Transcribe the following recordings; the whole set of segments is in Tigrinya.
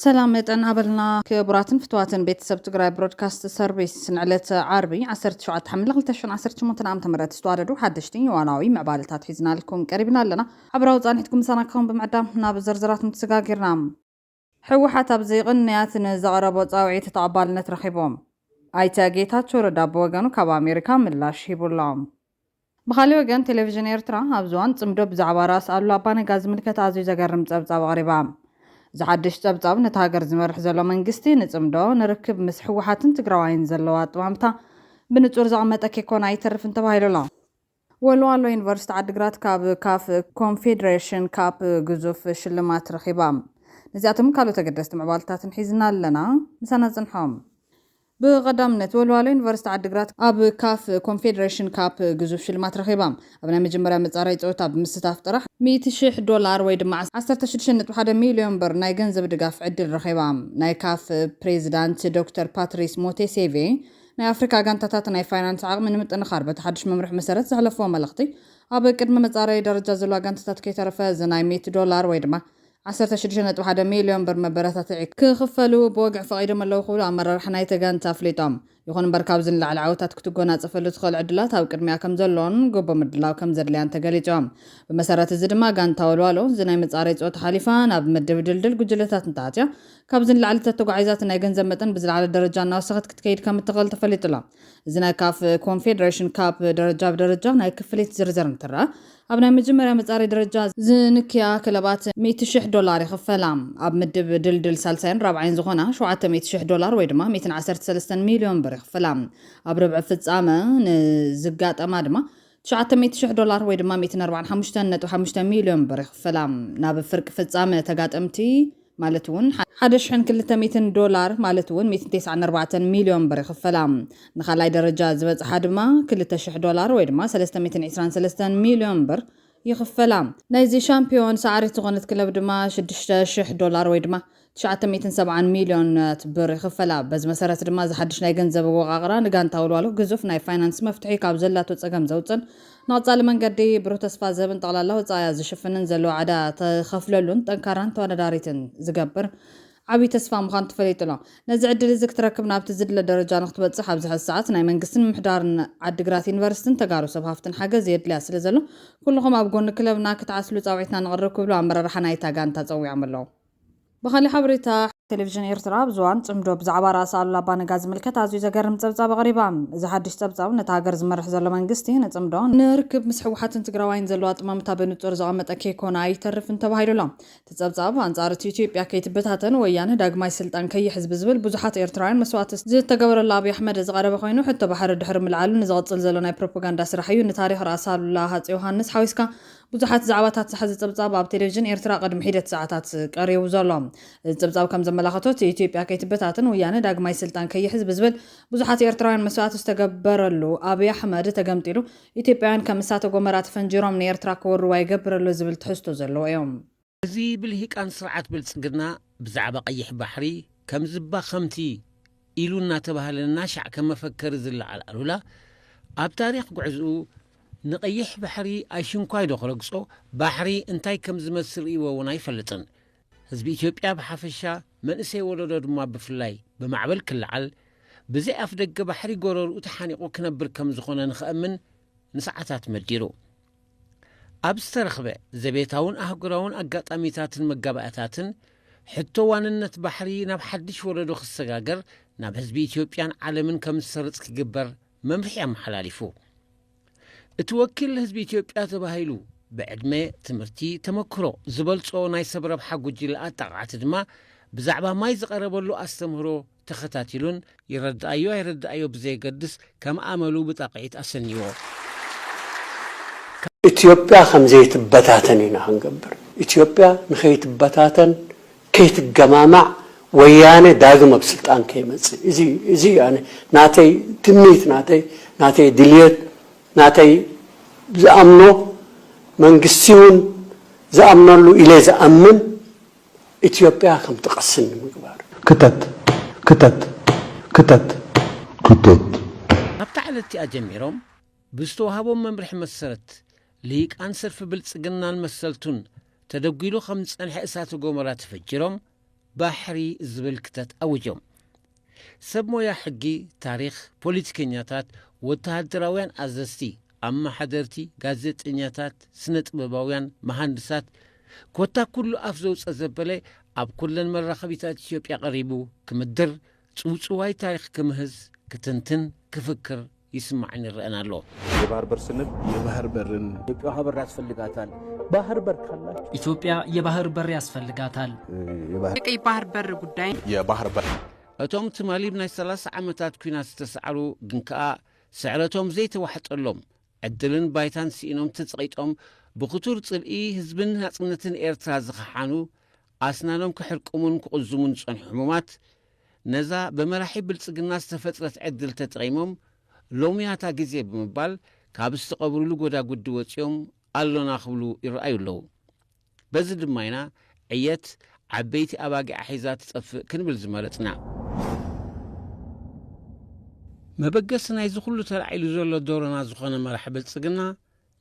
ሰላም መጠን ኣበልና ክቡራትን ፍትዋትን ቤተሰብ ትግራይ ብሮድካስት ሰርቪስ ንዕለት ዓርቢ 17 ሓምለ 2018 ዓ ም ዝተዋደዱ ሓደሽቲ ዋናዊ ምዕባለታት ሒዝናልኩም ቀሪብና ኣለና ሓበራዊ ፃኒሕትኩም ምሳና ክኸውን ብምዕዳም ናብ ዝርዝራት ምትስጋጊርና ህወሓት ኣብዚ ቅንያት ንዘቕረቦ ፃውዒት ተቐባልነት ረኺቡ። ኣይተ ጌታቸው ረዳ ብወገኑ ካብ ኣሜሪካ ምላሽ ሂቡ ኣሎ። ብኻሊእ ወገን ቴሌቪዥን ኤርትራ ኣብዚ እዋን ፅምዶ ብዛዕባ ራስ ኣሉላ ኣባ ነጋ ዝምልከት ኣዝዩ ዘገርም ፀብፃብ ኣቕሪባ። እዚ ሓዱሽ ፀብፃብ ነታ ሃገር ዝመርሕ ዘሎ መንግስቲ ንፅምዶ፣ ንርክብ ምስ ህወሓትን ትግራዋይን ዘለዎ ኣጠማምታ ብንፁር ዘቐመጠ ከይኮነ ኣይተርፍን ተባሂሉ ኣሎ። ወልዋሎ ዩኒቨርሲቲ ዓዲግራት ካብ ካፍ ኮንፌዴሬሽን ካፕ ግዙፍ ሽልማት ረኺባ። ነዚኣቶምን ካልኦት ኣገደስቲ ምዕባለታትን ሒዝና ኣለና። ምሳና ጽንሑ። ብቐዳምነት፣ ወልዋሎ ዩኒቨርሲቲ ዓዲግራት ኣብ ካፍ ኮንፌዴሬሽን ካፕ ግዙፍ ሽልማት ረኺባ። ኣብ ናይ መጀመርያ መጻረዪ ጸወታ ብምስታፍ ጥራሕ፣ ሚእቲ ሽሕ ዶላር ወይ ድማ ዓሰርተ ሽዱሽተ ነጥቢ ሓደ ሚልዮን ብር ናይ ገንዘብ ድጋፍ ዕድል ረኺባ። ናይ ካፍ ፕሬዚዳንት ዶክተር ፓትሪስ ሞቴሴቬ ናይ ኣፍሪካ ጋንታታት ናይ ፋይናንስ ዓቕሚ ንምጥንኻር በቲ ሓዱሽ መምርሒ መሰረት ዘሕለፍዎ መልእኽቲ ኣብ ቅድሚ መፃረዪ ደረጃ ዘለዋ ጋንታታት ከይተረፈ እዚ ናይ ሚእቲ ዶላር ወይ ድማ ዓሰርተ ሽዱሽተ ነጥቢ ሓደ ሚልዮን ብር መበረታትዒ ክኽፈሉ ብወግዒ ፈቒዶም ኣለዉ ክብሉ ኣመራርሓ ናይቲ ጋንታ ኣፍሊጦም። ይኹን እምበር ካብዚ ንላዕሊ ዓወታት ክትጎናፀፈሉ ትኽእል ዕድላት ኣብ ቅድሚኣ ከምዘሎን ጎቦ ምድላው ከምዘድልያን ተገሊፁ። ብመሰረት እዚ ድማ ጋንታ ወልዋሎ እዚ ናይ መፃረዪ ፀወታ ሓሊፋ ናብ ምድብ ድልድል ጉጅለታት እንተኣትያ ካብዚ ንላዕሊ ተተጓዒዛ እቲ ናይ ገንዘብ መጠን ብዝለዓለ ደረጃ እናወሰኸት ክትከይድ ከም እትኽእል ተፈሊጡ ኣሎ። እዚ ናይ ካፍ ኮንፌደሬሽን ካፕ ደረጃ ብደረጃ ናይ ክፍሊት ዝርዝር እንትረኣ፣ ኣብ ናይ መጀመርያ መጻረይ ደረጃ ዝንክያ ክለባት ሚእቲ ሽሕ ዶላር ይኽፈላ። ኣብ ምድብ ድልድል ሳልሳይን ራብዓይን ዝኾና ሸውዓተ ሚእቲ ሽሕ ዶላር ወይ ድማ ሚእትን ዓሰርተ ሰለስተን ሚልዮን ብር ይኽፈላ። ኣብ ርብዒ ፍጻመ ንዝጋጠማ ድማ ትሽዓተ ሚእቲ ሽሕ ዶላር ወይ ድማ ሚእትን ኣርባዓን ሓሙሽተን ነጥቢ ሓሙሽተ ሚልዮን ብር ይኽፈላ። ናብ ፍርቂ ፍጻመ ተጋጠምቲ ማለት እውን ሓደ ሽሕን ክልተ ሚእትን ዶላር ማለት እውን ሚእትን ቴስዓን ኣርባዕተን ሚልዮን ብር ይኽፈላ። ንኻልኣይ ደረጃ ዝበጽሓ ድማ ክልተ ሽሕ ዶላር ወይ ድማ ሰለስተ ሚእትን ዕስራን ሰለስተን ሚልዮን ብር ይኽፈላ። ናይዚ ሻምፕዮን ሰዓሪት ዝኾነት ክለብ ድማ ሽዱሽተ ሽሕ ዶላር ወይ ድማ ትሽዓተ ሚእትን ሰብዓን ሚልዮናት ብር ይኽፈላ። በዚ መሰረት ድማ እዚ ሓድሽ ናይ ገንዘብ ኣወቓቕራ ንጋንታ ወልዋሎ ግዙፍ ናይ ፋይናንስ መፍትሒ ካብ ዘላቶ ፀገም ዘውፅእን ንቐፃሊ መንገዲ ብሩህ ተስፋ ዝህብን ጠቕላላ ወፃኢኣ ዝሽፍንን ዘለዎ ዕዳ ትኸፍለሉን ጠንካራን ተወዳዳሪትን ዝገብር ዓብዪ ተስፋ ምዃኑ ተፈሊጡ ኣሎ። ነዚ ዕድል እዚ ክትረክብ ናብቲ ዝድለ ደረጃ ንክትበፅሕ ኣብዚ ሕዚ ሰዓት ናይ መንግስትን ምምሕዳርን ዓዲግራት ዩኒቨርሲቲን ተጋሩ ሰብ ሃፍትን ሓገዝ የድልያ ስለዘሎ ኩልኹም ኣብ ጎኒ ክለብና ክትዓስሉ ፃውዒትና ነቕርብ ክብሉ ኣመራርሓ ናይታ ጋንታ ፀዊዖም ኣለዉ። ብኻሊእ ሓበሬታ፣ ቴሌቪዥን ኤርትራ ኣብ ዝባን ጽምዶ ብዛዕባ ራእሲ ኣሉላ ኣባ ነጋ ዝምልከት ኣዝዩ ዘገርም ጸብጻብ ኣቕሪባ። እዚ ሓድሽ ጸብጻብ ነቲ ሃገር ዝመርሕ ዘሎ መንግስቲ፣ ንጽምዶ፣ ንርክብ ምስ ህወሓትን ትግራዋይን ዘለዎ ኣጠማምታ ብንጹር ዘቐመጠ ከይኮነ ኣይተርፍን ተባሂሉ ኣሎ። እቲ ጸብጻብ፣ ኣንጻር እቲ ኢትዮጵያ ከይትበታተን ወያነ ዳግማይ ስልጣን ከይሕዝ ብዝብል ብዙሓት ኤርትራውያን መስዋእቲ ዝተገበረሉ ኣብይ ኣሕመድ ዝቐረበ ኮይኑ፣ ሕቶ ባሕሪ ድሕሪ ምልዓሉ ንዝቕጽል ዘሎ ናይ ፕሮፖጋንዳ ስራሕ እዩ። ንታሪኽ ራእሲ ኣሉላ ሃጸ ዮሃንስ ሓዊስካ ብዙሓት ዛዕባታት ዝሓዘ ጸብጻብ ኣብ ቴሌቪዥን ኤርትራ ቅድሚ ሒደት ሰዓታት ቀሪቡ ዘሎ። እዚ ጸብጻብ ከም ዘመላኸቶ እቲ ኢትዮጵያ ከይትበታተን ወያነ ዳግማይ ስልጣን ከይሕዝ ብዝብል ብዙሓት ኤርትራውያን መስዋእቲ ዝተገበረሉ ኣብይ ኣሕመድ ተገምጢሉ ኢትዮጵያውያን ከም እሳተ ጎመራ ተፈንጂሮም ንኤርትራ ክወርዋ ይገብር ኣሎ ዝብል ትሕዝቶ ዘለዎ'ዩ። እዚ ብልሂቃን ስርዓት ብልጽግና ብዛዕባ ቀይሕ ባሕሪ ከምዚ እባ ከምቲ ኢሉ እናተባህለ እናሻዕ ከም መፈከሪ ዝለዓል ኣሉላ ኣብ ታሪኽ ጉዕዝኡ ንቀይሕ ባሕሪ ኣይሽንኳይ ዶ ክረግጾ ባሕሪ እንታይ ከም ዝመስል ርእይዎ እውን ኣይፈልጥን። ህዝቢ ኢትዮጵያ ብሓፈሻ መንእሰይ ወለዶ ድማ ብፍላይ ብማዕበል ክለዓል ብዘይ ኣፍደገ ባሕሪ ጎረርኡ ተሓኒቑ ክነብር ከም ዝኾነ ንኸእምን ንሰዓታት መዲሩ። ኣብ ዝተረኽበ ዘቤታውን ኣህጉራውን ኣጋጣሚታትን መጋባእታትን ሕቶ ዋንነት ባሕሪ ናብ ሓድሽ ወለዶ ክሰጋገር ናብ ህዝቢ ኢትዮጵያን ዓለምን ከም ዝሰርጽ ክግበር መምርሒ ኣመሓላሊፉ። እቲ ወኪል ህዝቢ ኢትዮጵያ ተባሂሉ ብዕድመ፣ ትምህርቲ፣ ተመክሮ ዝበልጾ ናይ ሰብ ረብሓ ጉጅለ ኣጣቃዕቲ ድማ ብዛዕባ ማይ ዝቐረበሉ ኣስተምህሮ ተኸታቲሉን ይረድኣዮ ኣይረድኣዮ ብዘየገድስ ከም ኣመሉ ብጣቕዒት ኣሰንይዎ። ኢትዮጵያ ከም ዘይትበታተን ኢና ክንገብር። ኢትዮጵያ ንከይትበታተን ከይትገማማዕ ወያነ ዳግም ኣብ ስልጣን ከይመጽእ እዚ እዚ እዩ ኣነ ናተይ ትምኒት ናተይ ናተይ ድልየት ናተይ ዝኣምኖ መንግስቲ እውን ዝኣምነሉ ኢለ ዝኣምን ኢትዮጵያ ከምትቐስን ንምግባር። ክተት! ክተት! ክተት! ክተት! ካብታ ዕለት'ቲኣ ጀሚሮም ብዝተዋህቦም መምርሒ መሰረት፣ ልሂቃን ሰልፊ ብልጽግናን መሰልቱን ተደጒሉ ከም ዝጸንሐ እሳተ ጎመራ ተፈጂሮም ባሕሪ ዝብል ክተት ኣዊጆም። ሰብ ሞያ ሕጊ፣ ታሪኽ፣ ፖሊቲከኛታት፣ ወተሃደራውያን ኣዘዝቲ፣ ኣመሓደርቲ፣ ጋዜጠኛታት፣ ስነ-ጥበባውያን፣ መሃንድሳት፣ ኮታ ኩሉ ኣፍ ዘውጸ ዘበለ ኣብ ኩለን መራኸቢታት ኢትዮጵያ ቀሪቡ ክምድር፣ ጽውጽዋይ ታሪኽ ክምህዝ፣ ክትንትን፣ ክፍክር፣ ይስማዕን ይረኣን ኣሎ። የባህር በር ስንል የባህር በርን። ኢትዮጵያ ውሃ በር ያስፈልጋታል። ባህር በር ካላችሁ ኢትዮጵያ የባህር በር ያስፈልጋታል። የቀይ ባህር በር ጉዳይ የባህር በር እቶም ትማሊ ብ ናይ ሰላሳ ዓመታት ኲናት ዝተሳዕሩ ግን ከኣ ስዕረቶም ዘይተዋሕጠሎም፣ ዕድልን ባይታን ስኢኖም ተጸቒጦም ብኽቱር ጽልኢ ህዝብን ናጽነትን ኤርትራ ዝኸሓኑ፣ ኣስናኖም ክሕርቅሙን ክቕዝሙን ዝጸንሑ ሕሙማት፣ ነዛ ብመራሒ ብልጽግና ዝተፈጥረት ዕድል ተጠቒሞም ሎሚያታ ግዜ ብምባል ካብ ዝተቐብሩሉ ጎዳጉዲ ወጺኦም ኣሎና ክብሉ ይረኣዩ ኣለዉ። በዚ ድማ ኢና ዕየት ዓበይቲ ኣባጊዓ ሒዛ ትጠፍእ ክንብል ዝመረጽና። መበገሲ ናይዚ ኩሉ ተላዒሉ ዘሎ ዶሮና ዝኾነ መራሒ ብልጽግና፣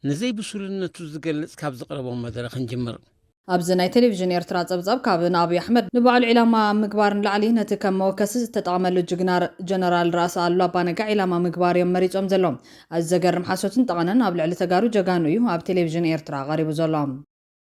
ንዘይ ብሱልነቱ ዝገልጽ ካብ ዘቕረቦ መደረ ክንጅምር። ኣብዚ ናይ ቴሌቪዥን ኤርትራ ጸብጻብ ካብ ንኣብይ ኣሕመድ ንባዕሉ ዒላማ ኣብ ምግባር ንላዕሊ ነቲ ከም መወከሲ ዝተጠቐመሉ ጅግና ጀነራል ራእሲ ኣሉላ ኣባነጋ ዒላማ ምግባር እዮም መሪጾም ዘሎው። ኣዚ ዘገርም ሓሶትን ጠቐነን ኣብ ልዕሊ ተጋሩ ጀጋኑ እዩ ኣብ ቴሌቪዥን ኤርትራ ቀሪቡ ዘሎ።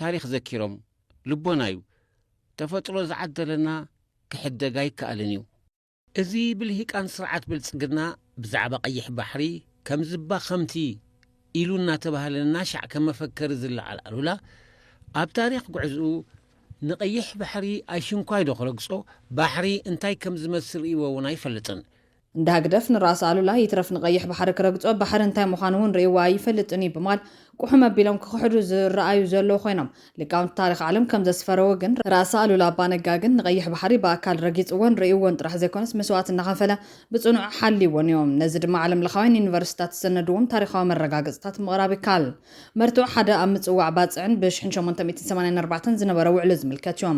ታሪኽ ዘኪሮም ልቦና እዩ ተፈጥሮ ዝዓደለና ክሕደግ ኣይከኣልን እዩ። እዚ ብልሂቃን ስርዓት ብልጽግና ብዛዕባ ቀይሕ ባሕሪ ከምዚባ ከምቲ ኢሉ እናተባህለ እናሻዕ ከም መፈከሪ ዝለዓል ኣሉላ ኣብ ታሪኽ ጉዕዝኡ ንቀይሕ ባሕሪ ኣይሽንኳይዶ ክረግጾ ባሕሪ እንታይ ከምዝመስል ርእይዎ እውን ኣይፈልጥን እንዳ ህግደፍ ንራእሲ ኣሉላ ይትረፍ ንቀይሕ ባሕሪ ክረግጾ ባሕሪ እንታይ ምዃኑ እውን ርእይዋ ኣይፈልጥን እዩ ብማል ቁሑም ኣቢሎም ክኽሕዱ ዝረኣዩ ዘለዉ ኮይኖም ሊቃውንቲ ታሪኽ ዓለም ከም ዘስፈረዎ ግን ራእሲ ኣሉላ ኣባ ነጋ ግን ንቀይሕ ባሕሪ ብኣካል ረጊጽዎን ርእይዎን ጥራሕ ዘይኮነስ መስዋእቲ እናኸፈለ ብጽኑዕ ሓልይዎን እዩ። ነዚ ድማ ዓለምለኻውያን ዩኒቨርሲቲታት ዝሰነድዎም ታሪኻዊ መረጋገጽታት ምቕራብ ይከኣል። መርትዖ ሓደ ኣብ ምጽዋዕ ባጽዕን ብሽሕን ሸሞንተ ሚእትን ሰማንያን ኣርባዕተን ዝነበረ ውዕሊ ዝምልከት እዩ።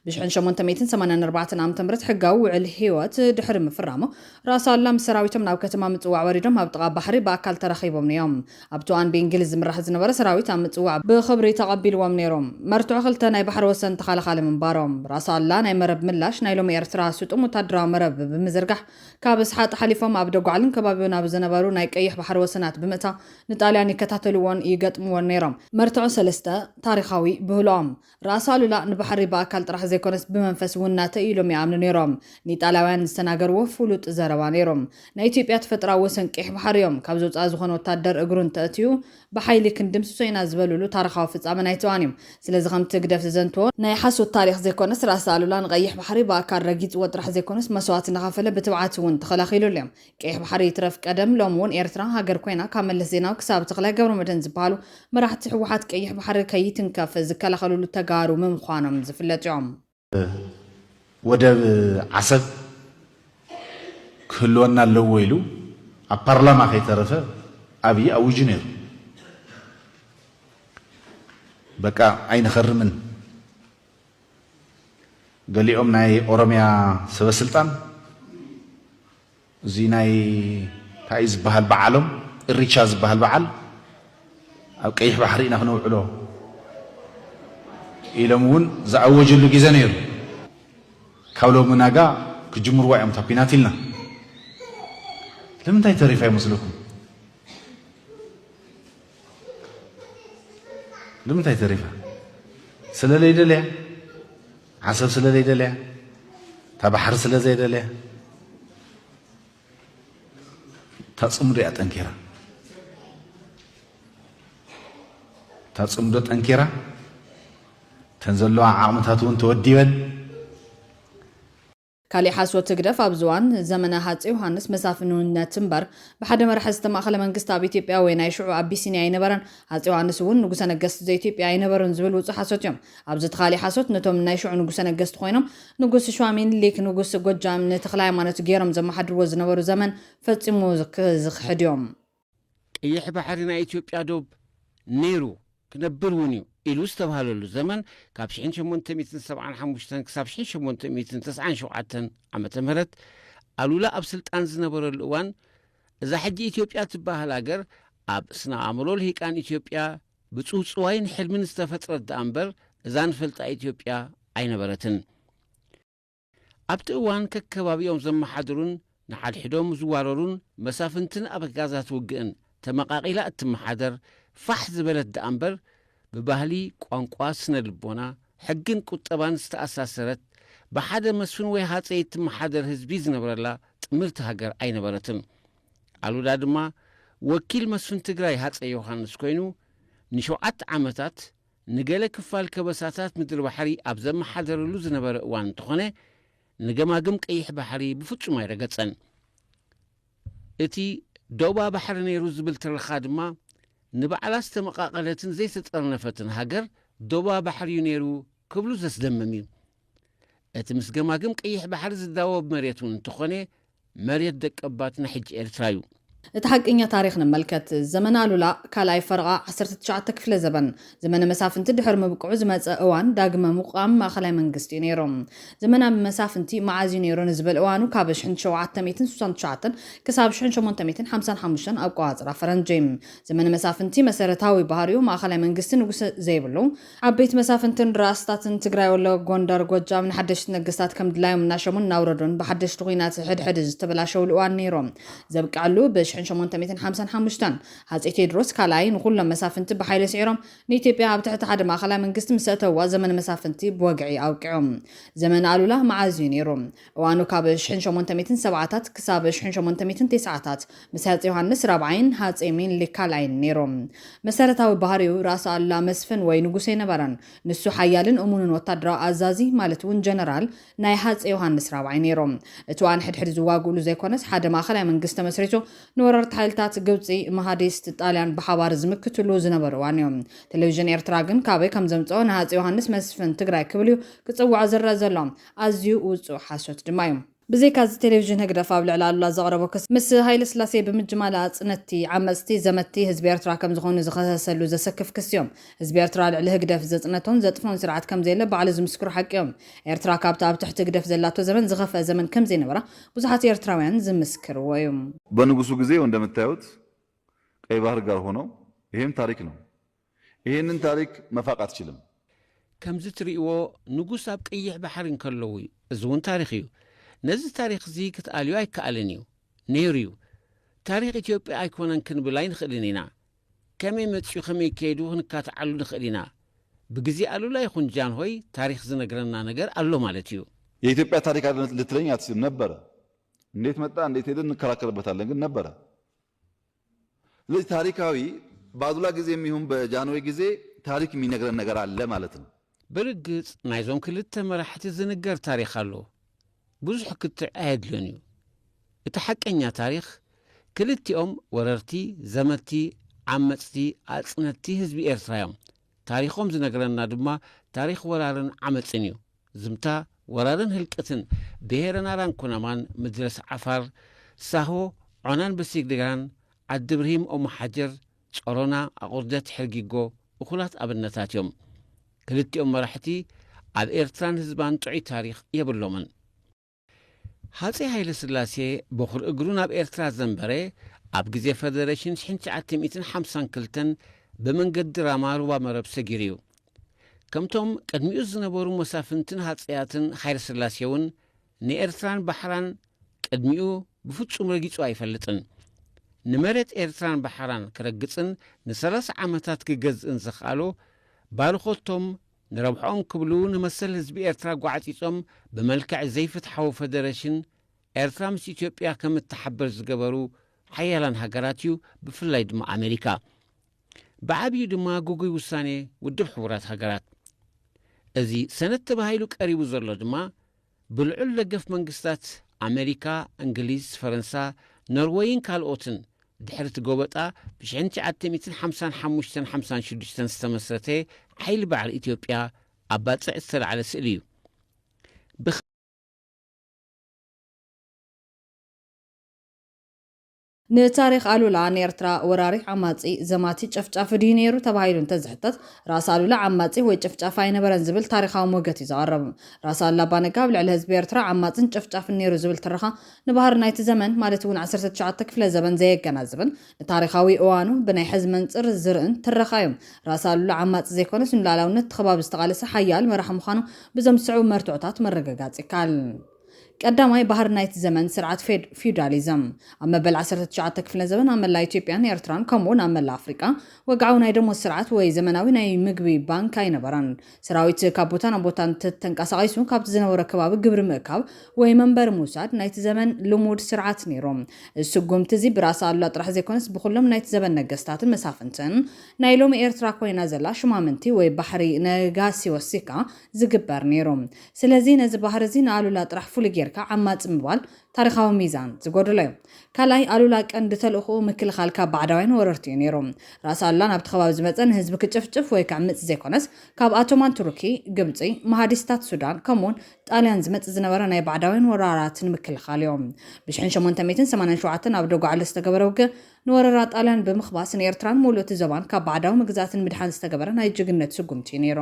ብሽሕን ሸሞንተ ሚእትን ሰማንያን ኣርባዕተን ዓመተ ምህረት ሕጋዊ ውዕል ህይወት ድሕሪ ምፍራሙ፣ ራስ ኣሉላ ምስ ሰራዊቶም ናብ ከተማ ምጽዋዕ ወሪዶም ኣብ ጥቓ ባሕሪ ብኣካል ተራኺቦም እዮም። ኣብቲ እዋን ብእንግሊዝ ዝምራሕ ዝነበረ ሰራዊት ኣብ ምጽዋዕ ብኽብሪ ተቐቢልዎም ነይሩ። መርትዖ ክልተ ናይ ባሕሪ ወሰን ተኸላኻሊ ምንባሮም። ራስ ኣሉላ ናይ መረብ ምላሽ ናይ ሎሚ ኤርትራ ስጡም ወተሃደራዊ መረብ ብምዝርጋሕ ካብ ስሓጥ ሓሊፎም ኣብ ደጓዕልን ከባቢኡን ኣብ ዝነበሩ ናይ ቀይሕ ባሕሪ ወሰናት ብምእታው ንጣልያን ይከታተልዎን ይገጥምዎን ነይሮም። መርትዖ ሰለስተ፣ ታሪኻዊ ብህሎኦም። ራእሲ ኣሉላ ንባሕሪ ብኣካል ጥራሕ ዘይኮነስ ብመንፈስ እውን ናተይ እዩ ኢሎም ይኣምኑ ነይሮም። ንኢጣልያውያን ዝተናገርዎ ፍሉጥ ዘረባ ነይሩ። ናይ ኢትዮጵያ ተፈጥራዊ ወሰን ቀይሕ ባሕሪ እዮም፣ ካብዚ ወፃኢ ዝኾነ ወታደር እግሩ እንተእትዩ ብሓይሊ ክንድምስሶ ኢና ዝበልሉ ታርኻዊ ፍፃመ ናይ ተዋን እዩ። ስለዚ ከምቲ ህግደፍ ዝዘንትዎ ናይ ሓሶት ታሪኽ ዘይኮነስ ራእሲ ኣሉላ ንቀይሕ ባሕሪ ብኣካል ረጊፅዎ ጥራሕ ዘይኮነስ መስዋእቲ እናኸፈለ ብትብዓት እውን ተኸላኺሉሉ እዩ። ቀይሕ ባሕሪ ይትረፍ ቀደም ሎም እውን ኤርትራ ሃገር ኮይና ካብ መለስ ዜናዊ ክሳብ ተክላይ ገብረመድህን ዝብሃሉ መራሕቲ ህወሓት ቀይሕ ባሕሪ ከይትንከፍ ዝከላኸልሉ ተጋሩ ምምዃኖም ዝፍለጥ እዮም። ወደብ ዓሰብ ክህልወና ኣለዎ ኢሉ ኣብ ፓርላማ ከይተረፈ ኣብዪ ኣዊጁ ነይሩ። በቃ ኣይንኸርምን! ገሊኦም ናይ ኦሮምያ ሰበስልጣን እዚ ናይ እንታይ እዩ ዝበሃል በዓሎም እሪቻ ዝበሃል በዓል ኣብ ቀይሕ ባሕሪ ኢና ክነውዕሎ ኢሎም እውን ዝኣወጀሉ ግዜ ነይሩ። ካብ ሎሚ ናጋ ክጅምርዋ እዮም እታ ኲናት ኢልና ለምንታይ ተሪፋ ይመስለኩም? ንምንታይ ተሪፋ ስለ ለይደልያ ዓሰብ ስለ ለይደልያ እታ ባሕሪ ስለ ዘይደልያ እታ ፅምዶ እያ ጠንኪራ እታ ፅምዶ ጠንኪራ እተን ዘለዋ ዓቕምታት እውን ተወዲበን ካሊእ ሓሶት ህግደፍ ኣብዚ እዋን ዘመነ ሃጼ ዮሃንስ መሳፍንውነት እምበር ብሓደ መራሒ ዝተማእኸለ መንግስቲ ኣብ ኢትዮጵያ ወይ ናይ ሽዑ ኣቢሲንያ ኣይነበረን ሃጼ ዮሃንስ እውን ንጉሰ ነገስት ዘኢትዮጵያ ኣይነበሩን ዝብል ውጹእ ሓሶት እዮም ኣብዚ እቲ ካሊእ ሓሶት ነቶም ናይ ሽዑ ንጉሰ ነገስት ኮይኖም ንጉስ ሸዋ ሚኒሊክ ንጉስ ጎጃም ንተክለሃይማኖት ገይሮም ዘመሓድርዎ ዝነበሩ ዘመን ፈጺሙ ዝክሕድ እዮም። ቀይሕ ባሕሪ ናይ ኢትዮጵያ ዶብ ነይሩ ክነብር እውን እዩ ኢሉ ዝተብሃለሉ ዘመን ካብ ሽሕን ሸሞንተ ሚእትን ሰብዓን ሓሙሽተን ክሳብ ሽሕን ሸሞንተ ሚእትን ተስዓን ሸውዓተን ዓመተ ምህረት ኣሉላ ኣብ ስልጣን ዝነበረሉ እዋን እዛ ሕጂ ኢትዮጵያ ትበሃል ሃገር ኣብ ስነ ኣእምሮ ልሂቃን ኢትዮጵያ ብጽውጽዋይን ሕልምን ዝተፈጥረት ደኣ እምበር እዛ ንፈልጣ ኢትዮጵያ ኣይነበረትን። ኣብቲ እዋን ከከባቢኦም ዘመሓድሩን ንሓድሕዶም ዝዋረሩን መሳፍንትን ኣበጋዛት ውግእን ተመቓቒላ እትመሓደር ፋሕ ዝበለት ደኣ እምበር ብባህሊ፣ ቋንቋ፣ ስነ ልቦና፣ ሕግን ቁጠባን ዝተኣሳሰረት ብሓደ መስፍን ወይ ሃፀይ እትመሓደር ህዝቢ ዝነብረላ ጥምርቲ ሃገር ኣይነበረትን። ኣሉላ ድማ ወኪል መስፍን ትግራይ ሃፀይ ዮሃንስ ኮይኑ ንሸውዓተ ዓመታት ንገለ ክፋል ከበሳታት ምድሪ ባሕሪ ኣብ ዘመሓደረሉ ዝነበረ እዋን እንተኾነ ንገማግም ቀይሕ ባሕሪ ብፍጹም ኣይረገጸን። እቲ ዶባ ባሕሪ ነይሩ ዝብል ትረኻ ድማ ንባዕላ ዝተመቓቐለትን ዘይተጠርነፈትን ሃገር ዶባ ባሕሪ'ዩ ነይሩ ክብሉ ዘስደምም እዩ። እቲ ምስ ገማግም ቀይሕ ባሕሪ ዝዳወብ መሬት እውን እንተኾነ መሬት ደቀባትና ሕጂ ኤርትራ ዩ። እቲ ሓቀኛ ታሪኽ ንመልከት። ዘመነ ኣሉላ ካልኣይ ፈረቓ ዓሰርተ ትሽዓተ ክፍለ ዘበን፣ ዘመነ መሳፍንቲ ድሕሪ ምብቅዑ ዝመጸ እዋን ዳግመ ምቛም ማእከላይ መንግስቲ እዩ ነይሩ። ዘመነ መሳፍንቲ መዓዝ እዩ ነይሩ ንዝብል እዋኑ ካብ ሽሕን ሸውዓተ ሚእትን ስሳን ትሽዓተን ክሳብ ሽሕን ሸሞንተ ሚእትን ሓምሳን ሓሙሽተን ኣቆጻጽራ ፈረንጂ። ዘመነ መሳፍንቲ መሰረታዊ ባህሪኡ ማእከላይ መንግስቲ ንጉሰ ዘይብሉ፣ ዓበይቲ መሳፍንትን ራእስታትን ትግራይ ወሎ ጎንደር ጎጃም ንሓደሽቲ ነገስታት ከም ድላዮም እናሸሙን እናውረዱን ብሓደሽቲ ኹናት ሕድ ሕድ ዝተበላሸውሉ እዋን ነይሩ ዘብቀዐሉ ብ ሽሕን ሸሞንተ ሚእትን ሓምሳን ሓሙሽተን ሃፄ ቴድሮስ ካልኣይ ንኹሎም መሳፍንቲ ብሓይሊ ስዒሮም ንኢትዮጵያ ኣብ ትሕቲ ሓደ ማእኸላይ መንግስቲ ምስ ኣእተውዋ ዘመነ መሳፍንቲ ብወግዒ ኣብቂዑ ዘመነ ኣሉላ መዓዝ እዩ ነይሩ እዋኑ ካብ ሽሕን ሸሞንተ ሚእትን ሰብዓታት ክሳብ ሽሕን ሸሞንተ ሚእትን ቴስዓታት ምስ ሃጼ ዮሃንስ ራብዓይን ሃጼ ሚንሊክ ካልኣይን ነይሩ። መሰረታዊ ባህሪኡ ራስ ኣሉላ መስፍን ወይ ንጉስ ኣይነበረን። ንሱ ሓያልን እሙንን ወታደራዊ ኣዛዚ ማለት እውን ጀነራል ናይ ሃጼ ዮሃንስ ራብዓይ ነይሩ። እቲ ዋን ሕድሕድ ዝዋግኡሉ ዘይኮነስ ሓደ ማእኸላይ መንግስቲ ተመስሪቱ ንወረርቲ ሓይልታት ግብጺ፣ መሃዲስት፣ ጣልያን ብሓባር ዝምክትሉ ዝነበሩ እዋን እዩ። ቴሌቪዥን ኤርትራ ግን ካበይ ከምዘምጸኦ ንሃጼ ዮሃንስ መስፍን ትግራይ ክብል እዩ ክጽውዖ ዝረኣ ዘሎ። ኣዝዩ ውጹእ ሓሶት ድማ እዩ። ብዘይካዚ ቴሌቪዥን ህግደፍ ኣብ ልዕሊ ኣሉላ ዘቕረቦ ክሲ፣ ምስ ሃይለስላሴ ብምጅማል ኣጽነትቲ፣ ዓመጽቲ፣ ዘመትቲ ህዝቢ ኤርትራ ከም ዝኾኑ ዝኸሰሰሉ ዘሰክፍ ክሲዮም። ህዝቢ ኤርትራ ልዕሊ ህግደፍ ዘጽነቶን ዘጥፍኦን ስርዓት ከም ዘየለ ባዕሉ ዝምስክሮ ሓቂዮም። ኤርትራ ካብቲ ኣብ ትሕቲ ህግደፍ ዘላቶ ዘመን ዝኸፍኣ ዘመን ከም ዘይነበራ ብዙሓት ኤርትራውያን ዝምስክርዎ እዩ። በንጉሱ ግዜ ወንደምታዮት ቀይ ባህር ጋር ሆነው ይሄም ታሪክ ነው። ኢሄንን ታሪክ መፋቅ ኣትችልም። ከምዚ ትርእይዎ ንጉስ ኣብ ቀይሕ ባሕሪ እንከለዉ እዩ። እዚ እውን ታሪኽ እዩ። ነዚ ታሪኽ እዚ ክትኣልዮ ኣይከኣልን እዩ። ነይሩ እዩ። ታሪኽ ኢትዮጵያ ኣይኮነን ክንብል ኣይንኽእልን ኢና። ከመይ መጺኡ ከመይ ከይዱ ክንካትዓሉ ንኽእል ኢና። ብግዜ ኣሉላ ይኹን ጃንሆይ ታሪኽ ዝነግረና ነገር ኣሎ ማለት እዩ። የኢትዮጵያ ታሪክ ኣለ ልትለኝ ኣትችልም። ነበረ። እንዴት መጣ እንዴት ሄደ እንከራከርበታለን ግን ነበረ። ስለዚ ታሪካዊ ብኣሉላ ግዜም ይሁን በጃንሆይ ግዜ ታሪክ ሚነግረን ነገር ኣለ ማለት ነው። ብርግጽ ናይዞም ክልተ መራሕቲ ዝንገር ታሪኽ ኣሎ ብዙሕ ክትዕ ኣየድልዮን እዩ እቲ ሓቀኛ ታሪኽ ክልቲኦም ወረርቲ ዘመቲ ዓመጽቲ ኣጽነቲ ህዝቢ ኤርትራ እዮም ታሪኾም ዝነግረና ድማ ታሪኽ ወራርን ዓመጽን እዩ። ዝምታ ወራርን ህልቅትን ብሄረ ናራን ኩናማን፣ ምድረስ ዓፋር፣ ሳሆ፣ ዖናን ብሲግድጋን፣ ዓዲ ብርሂም ኦምሓጀር፣ ጸሮና፣ ኣቑርደት ሕርጊጎ እኹላት ኣብነታት እዮም። ክልቲኦም መራሕቲ ኣብ ኤርትራን ህዝባን ጥዑይ ታሪኽ የብሎምን። ሃጼ ሃይለስላሴ በዅሪ እግሩ ናብ ኤርትራ ዘንበረ ኣብ ግዜ ፈደረሽን ሽሕን ትሽዓተ ሚእትን ሓምሳን ክልተን ብመንገዲ ራማ ሩባ መረብ ሰጊሩ እዩ። ከምቶም ቅድሚኡ ዝነበሩ መሳፍንትን ሃጸያትን ሃይለስላሴውን ንኤርትራን ባሕራን ቅድሚኡ ብፍጹም ረጊጹ ኣይፈልጥን። ንመሬት ኤርትራን ባሕራን ክረግጽን ንሰላሳ ዓመታት ክገዝእን ዘኽኣሎ ባርኾቶም ንረብሕኦም ክብሉ ንመሰል ህዝቢ ኤርትራ ጓዕጺጾም ብመልክዕ ዘይፍትሓዊ ፈደረሽን፣ ኤርትራ ምስ ኢትዮጵያ ከም እትሓብር ዝገበሩ ሓያላን ሃገራት እዩ፣ ብፍላይ ድማ ኣመሪካ። ብዓብዩ ድማ ግጉይ ውሳኔ ውድብ ሕቡራት ሃገራት። እዚ ሰነድ ተባሂሉ ቀሪቡ ዘሎ ድማ፣ ብልዑል ደገፍ መንግስታት ኣመሪካ፣ እንግሊዝ፣ ፈረንሳ፣ ኖርወይን ካልኦትን ድሕሪ እቲ ጎበጣ ብሽሕን ትሽዓተ ሚእትን ሓምሳን ሓሙሽተን ሓምሳን ሽዱሽተን ዝተመስረተ ሓይሊ ባዕሪ ኢትዮጵያ ኣብ ባጽዕ ዝተላዕለ ስእሊ እዩ። ብ ንታሪኽ ኣሉላ ንኤርትራ ወራሪ፣ ዓማጺ፣ ዘማቲ፣ ጨፍጫፊ ድዩ ነይሩ ተባሂሉ እንተዝሕተት፣ ራስ ኣሉላ ዓማጺ ወይ ጨፍጫፊ ኣይነበረን ዝብል ታሪኻዊ ሞገት እዩ ዘቐርብ። ራስ ኣሉላ ኣባነጋ ኣብ ልዕሊ ህዝቢ ኤርትራ ዓማጽን ጨፍጫፍን ነይሩ ዝብል ትረኻ ንባህሪ ናይቲ ዘመን ማለት እውን ዓሰርተ ትሽዓተ ክፍለ ዘበን ዘየገናዝብን ንታሪኻዊ እዋኑ ብናይ ሕዚ መንጽር ዝርእን ትረኻ እዩ። ራስ ኣሉላ ዓማጺ ዘይኮነስ ንሉኣላውነት እቲ ከባቢ ዝተቓለሰ ሓያል መራሒ ምዃኑ ብዞም ዝስዕቡ መርትዖታት ምርግጋጽ ይከኣል። ቀዳማይ ባህሪ ናይቲ ዘመን ስርዓት ፌድ-ፊውዳሊዝም፣ ኣብ መበል ዓሰርተ ትሽዓተ ክፍለዘበን ኣብ መላእ ኢትዮጵያን ኤርትራን ከምኡ'ውን ኣብ መላእ ኣፍሪቃ፣ ወግዓዊ ናይ ደሞዝ ስርዓት ወይ ዘመናዊ ናይ ምግቢ ባንክ ኣይነበረን። ሰራዊት ካብ ቦታ ናብ ቦታ እንተተንቀሳቒሱ ካብቲ ዝነበሮ ከባቢ ግብሪ ምእካብ ወይ መንበሪ ምውሳድ ናይቲ ዘመን ልሙድ ስርዓት ነይሩ። እዚ ስጉምቲ'ዚ ብራእሲ ኣሉላ ጥራሕ ዘይኮነስ ብኹሎም ናይቲ ዘበን ነገስታትን መሳፍንትን፣ ናይ ሎሚ ኤርትራ ኮይና ዘላ ሽማምንቲ ወይ ባሕሪ ነጋሲ ወሲኽካ፣ ዝግበር ነይሩ ስለዚ ነዚ ባህሪ እዚ ንኣሉላ ጥራሕ ፍሉይ ጌርካ ዓማጺ ምባል ታሪኻዊ ሚዛን ዝጎደሎ እዩ ካልኣይ ኣሉላ ቀንዲ ተልእኹኡ ምክልኻል ካብ ባዕዳውያን ወረርቲ እዩ ነይሩ ራእሲ ኣሉላ ናብቲ ከባቢ ዝመጸ ንህዝቢ ክጭፍጭፍ ወይ ከዕምጽ ዘይኮነስ ካብ ኣቶማን ቱርኪ ግብጺ መሃዲስታት ሱዳን ከምኡውን ጣልያን ዝመጽ ዝነበረ ናይ ባዕዳውያን ወራራት ንምክልኻል እዩ ብሽሕን ሸሞንተ ሚእትን ሰማንያን ሸውዓተን ኣብ ዶጋዕሎ ዝተገበረ ውግእ ንወረራ ጣልያን ብምክባስ ንኤርትራን ሙሉእ እቲ ዞባን ካብ ባዕዳዊ ምግዛእት ንምድሓን ዝተገበረ ናይ ጅግንነት ስጉምቲ እዩ ነይሩ።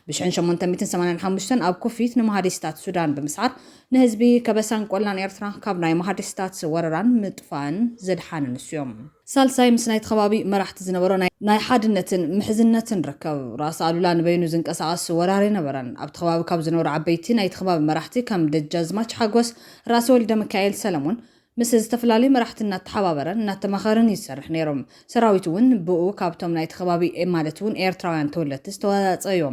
ብሽሕን ሸሞንተ ሚእትን ሰማንያን ሓሙሽተን ኣብ ኩፊት ንመሃዲስታት ሱዳን ብምስዓር ንህዝቢ ከበሳን ቆላን ኤርትራ ካብ ናይ መሃዲስታት ወረራን ምጥፋእን ዘድሓነ ንሱ እዩ። ሳልሳይ ምስ ናይቲ ከባቢ መራሕቲ ዝነበሮ ናይ ሓድነትን ምሕዝነትን ርክብ። ራስ ኣሉላ ንበይኑ ዝንቀሳቐስ ወራር ኣይነበረን። ኣብቲ ከባቢ ካብ ዝነበሩ ዓበይቲ ናይቲ ከባቢ መራሕቲ ከም ደጃዝማች ሓጎስ፣ ራእሲ ወልደሚካኤል ሰለሙን፣ ምስ ዝተፈላለዩ መራሕቲ እናተሓባበረን እናተማኸረን እዩ ዝሰርሕ ነይሩ። ሰራዊቱ እውን ብኡ ካብቶም ናይቲ ከባቢ ማለት እውን ኤርትራውያን ተወለድቲ ዝተዋፃፀ እዩ።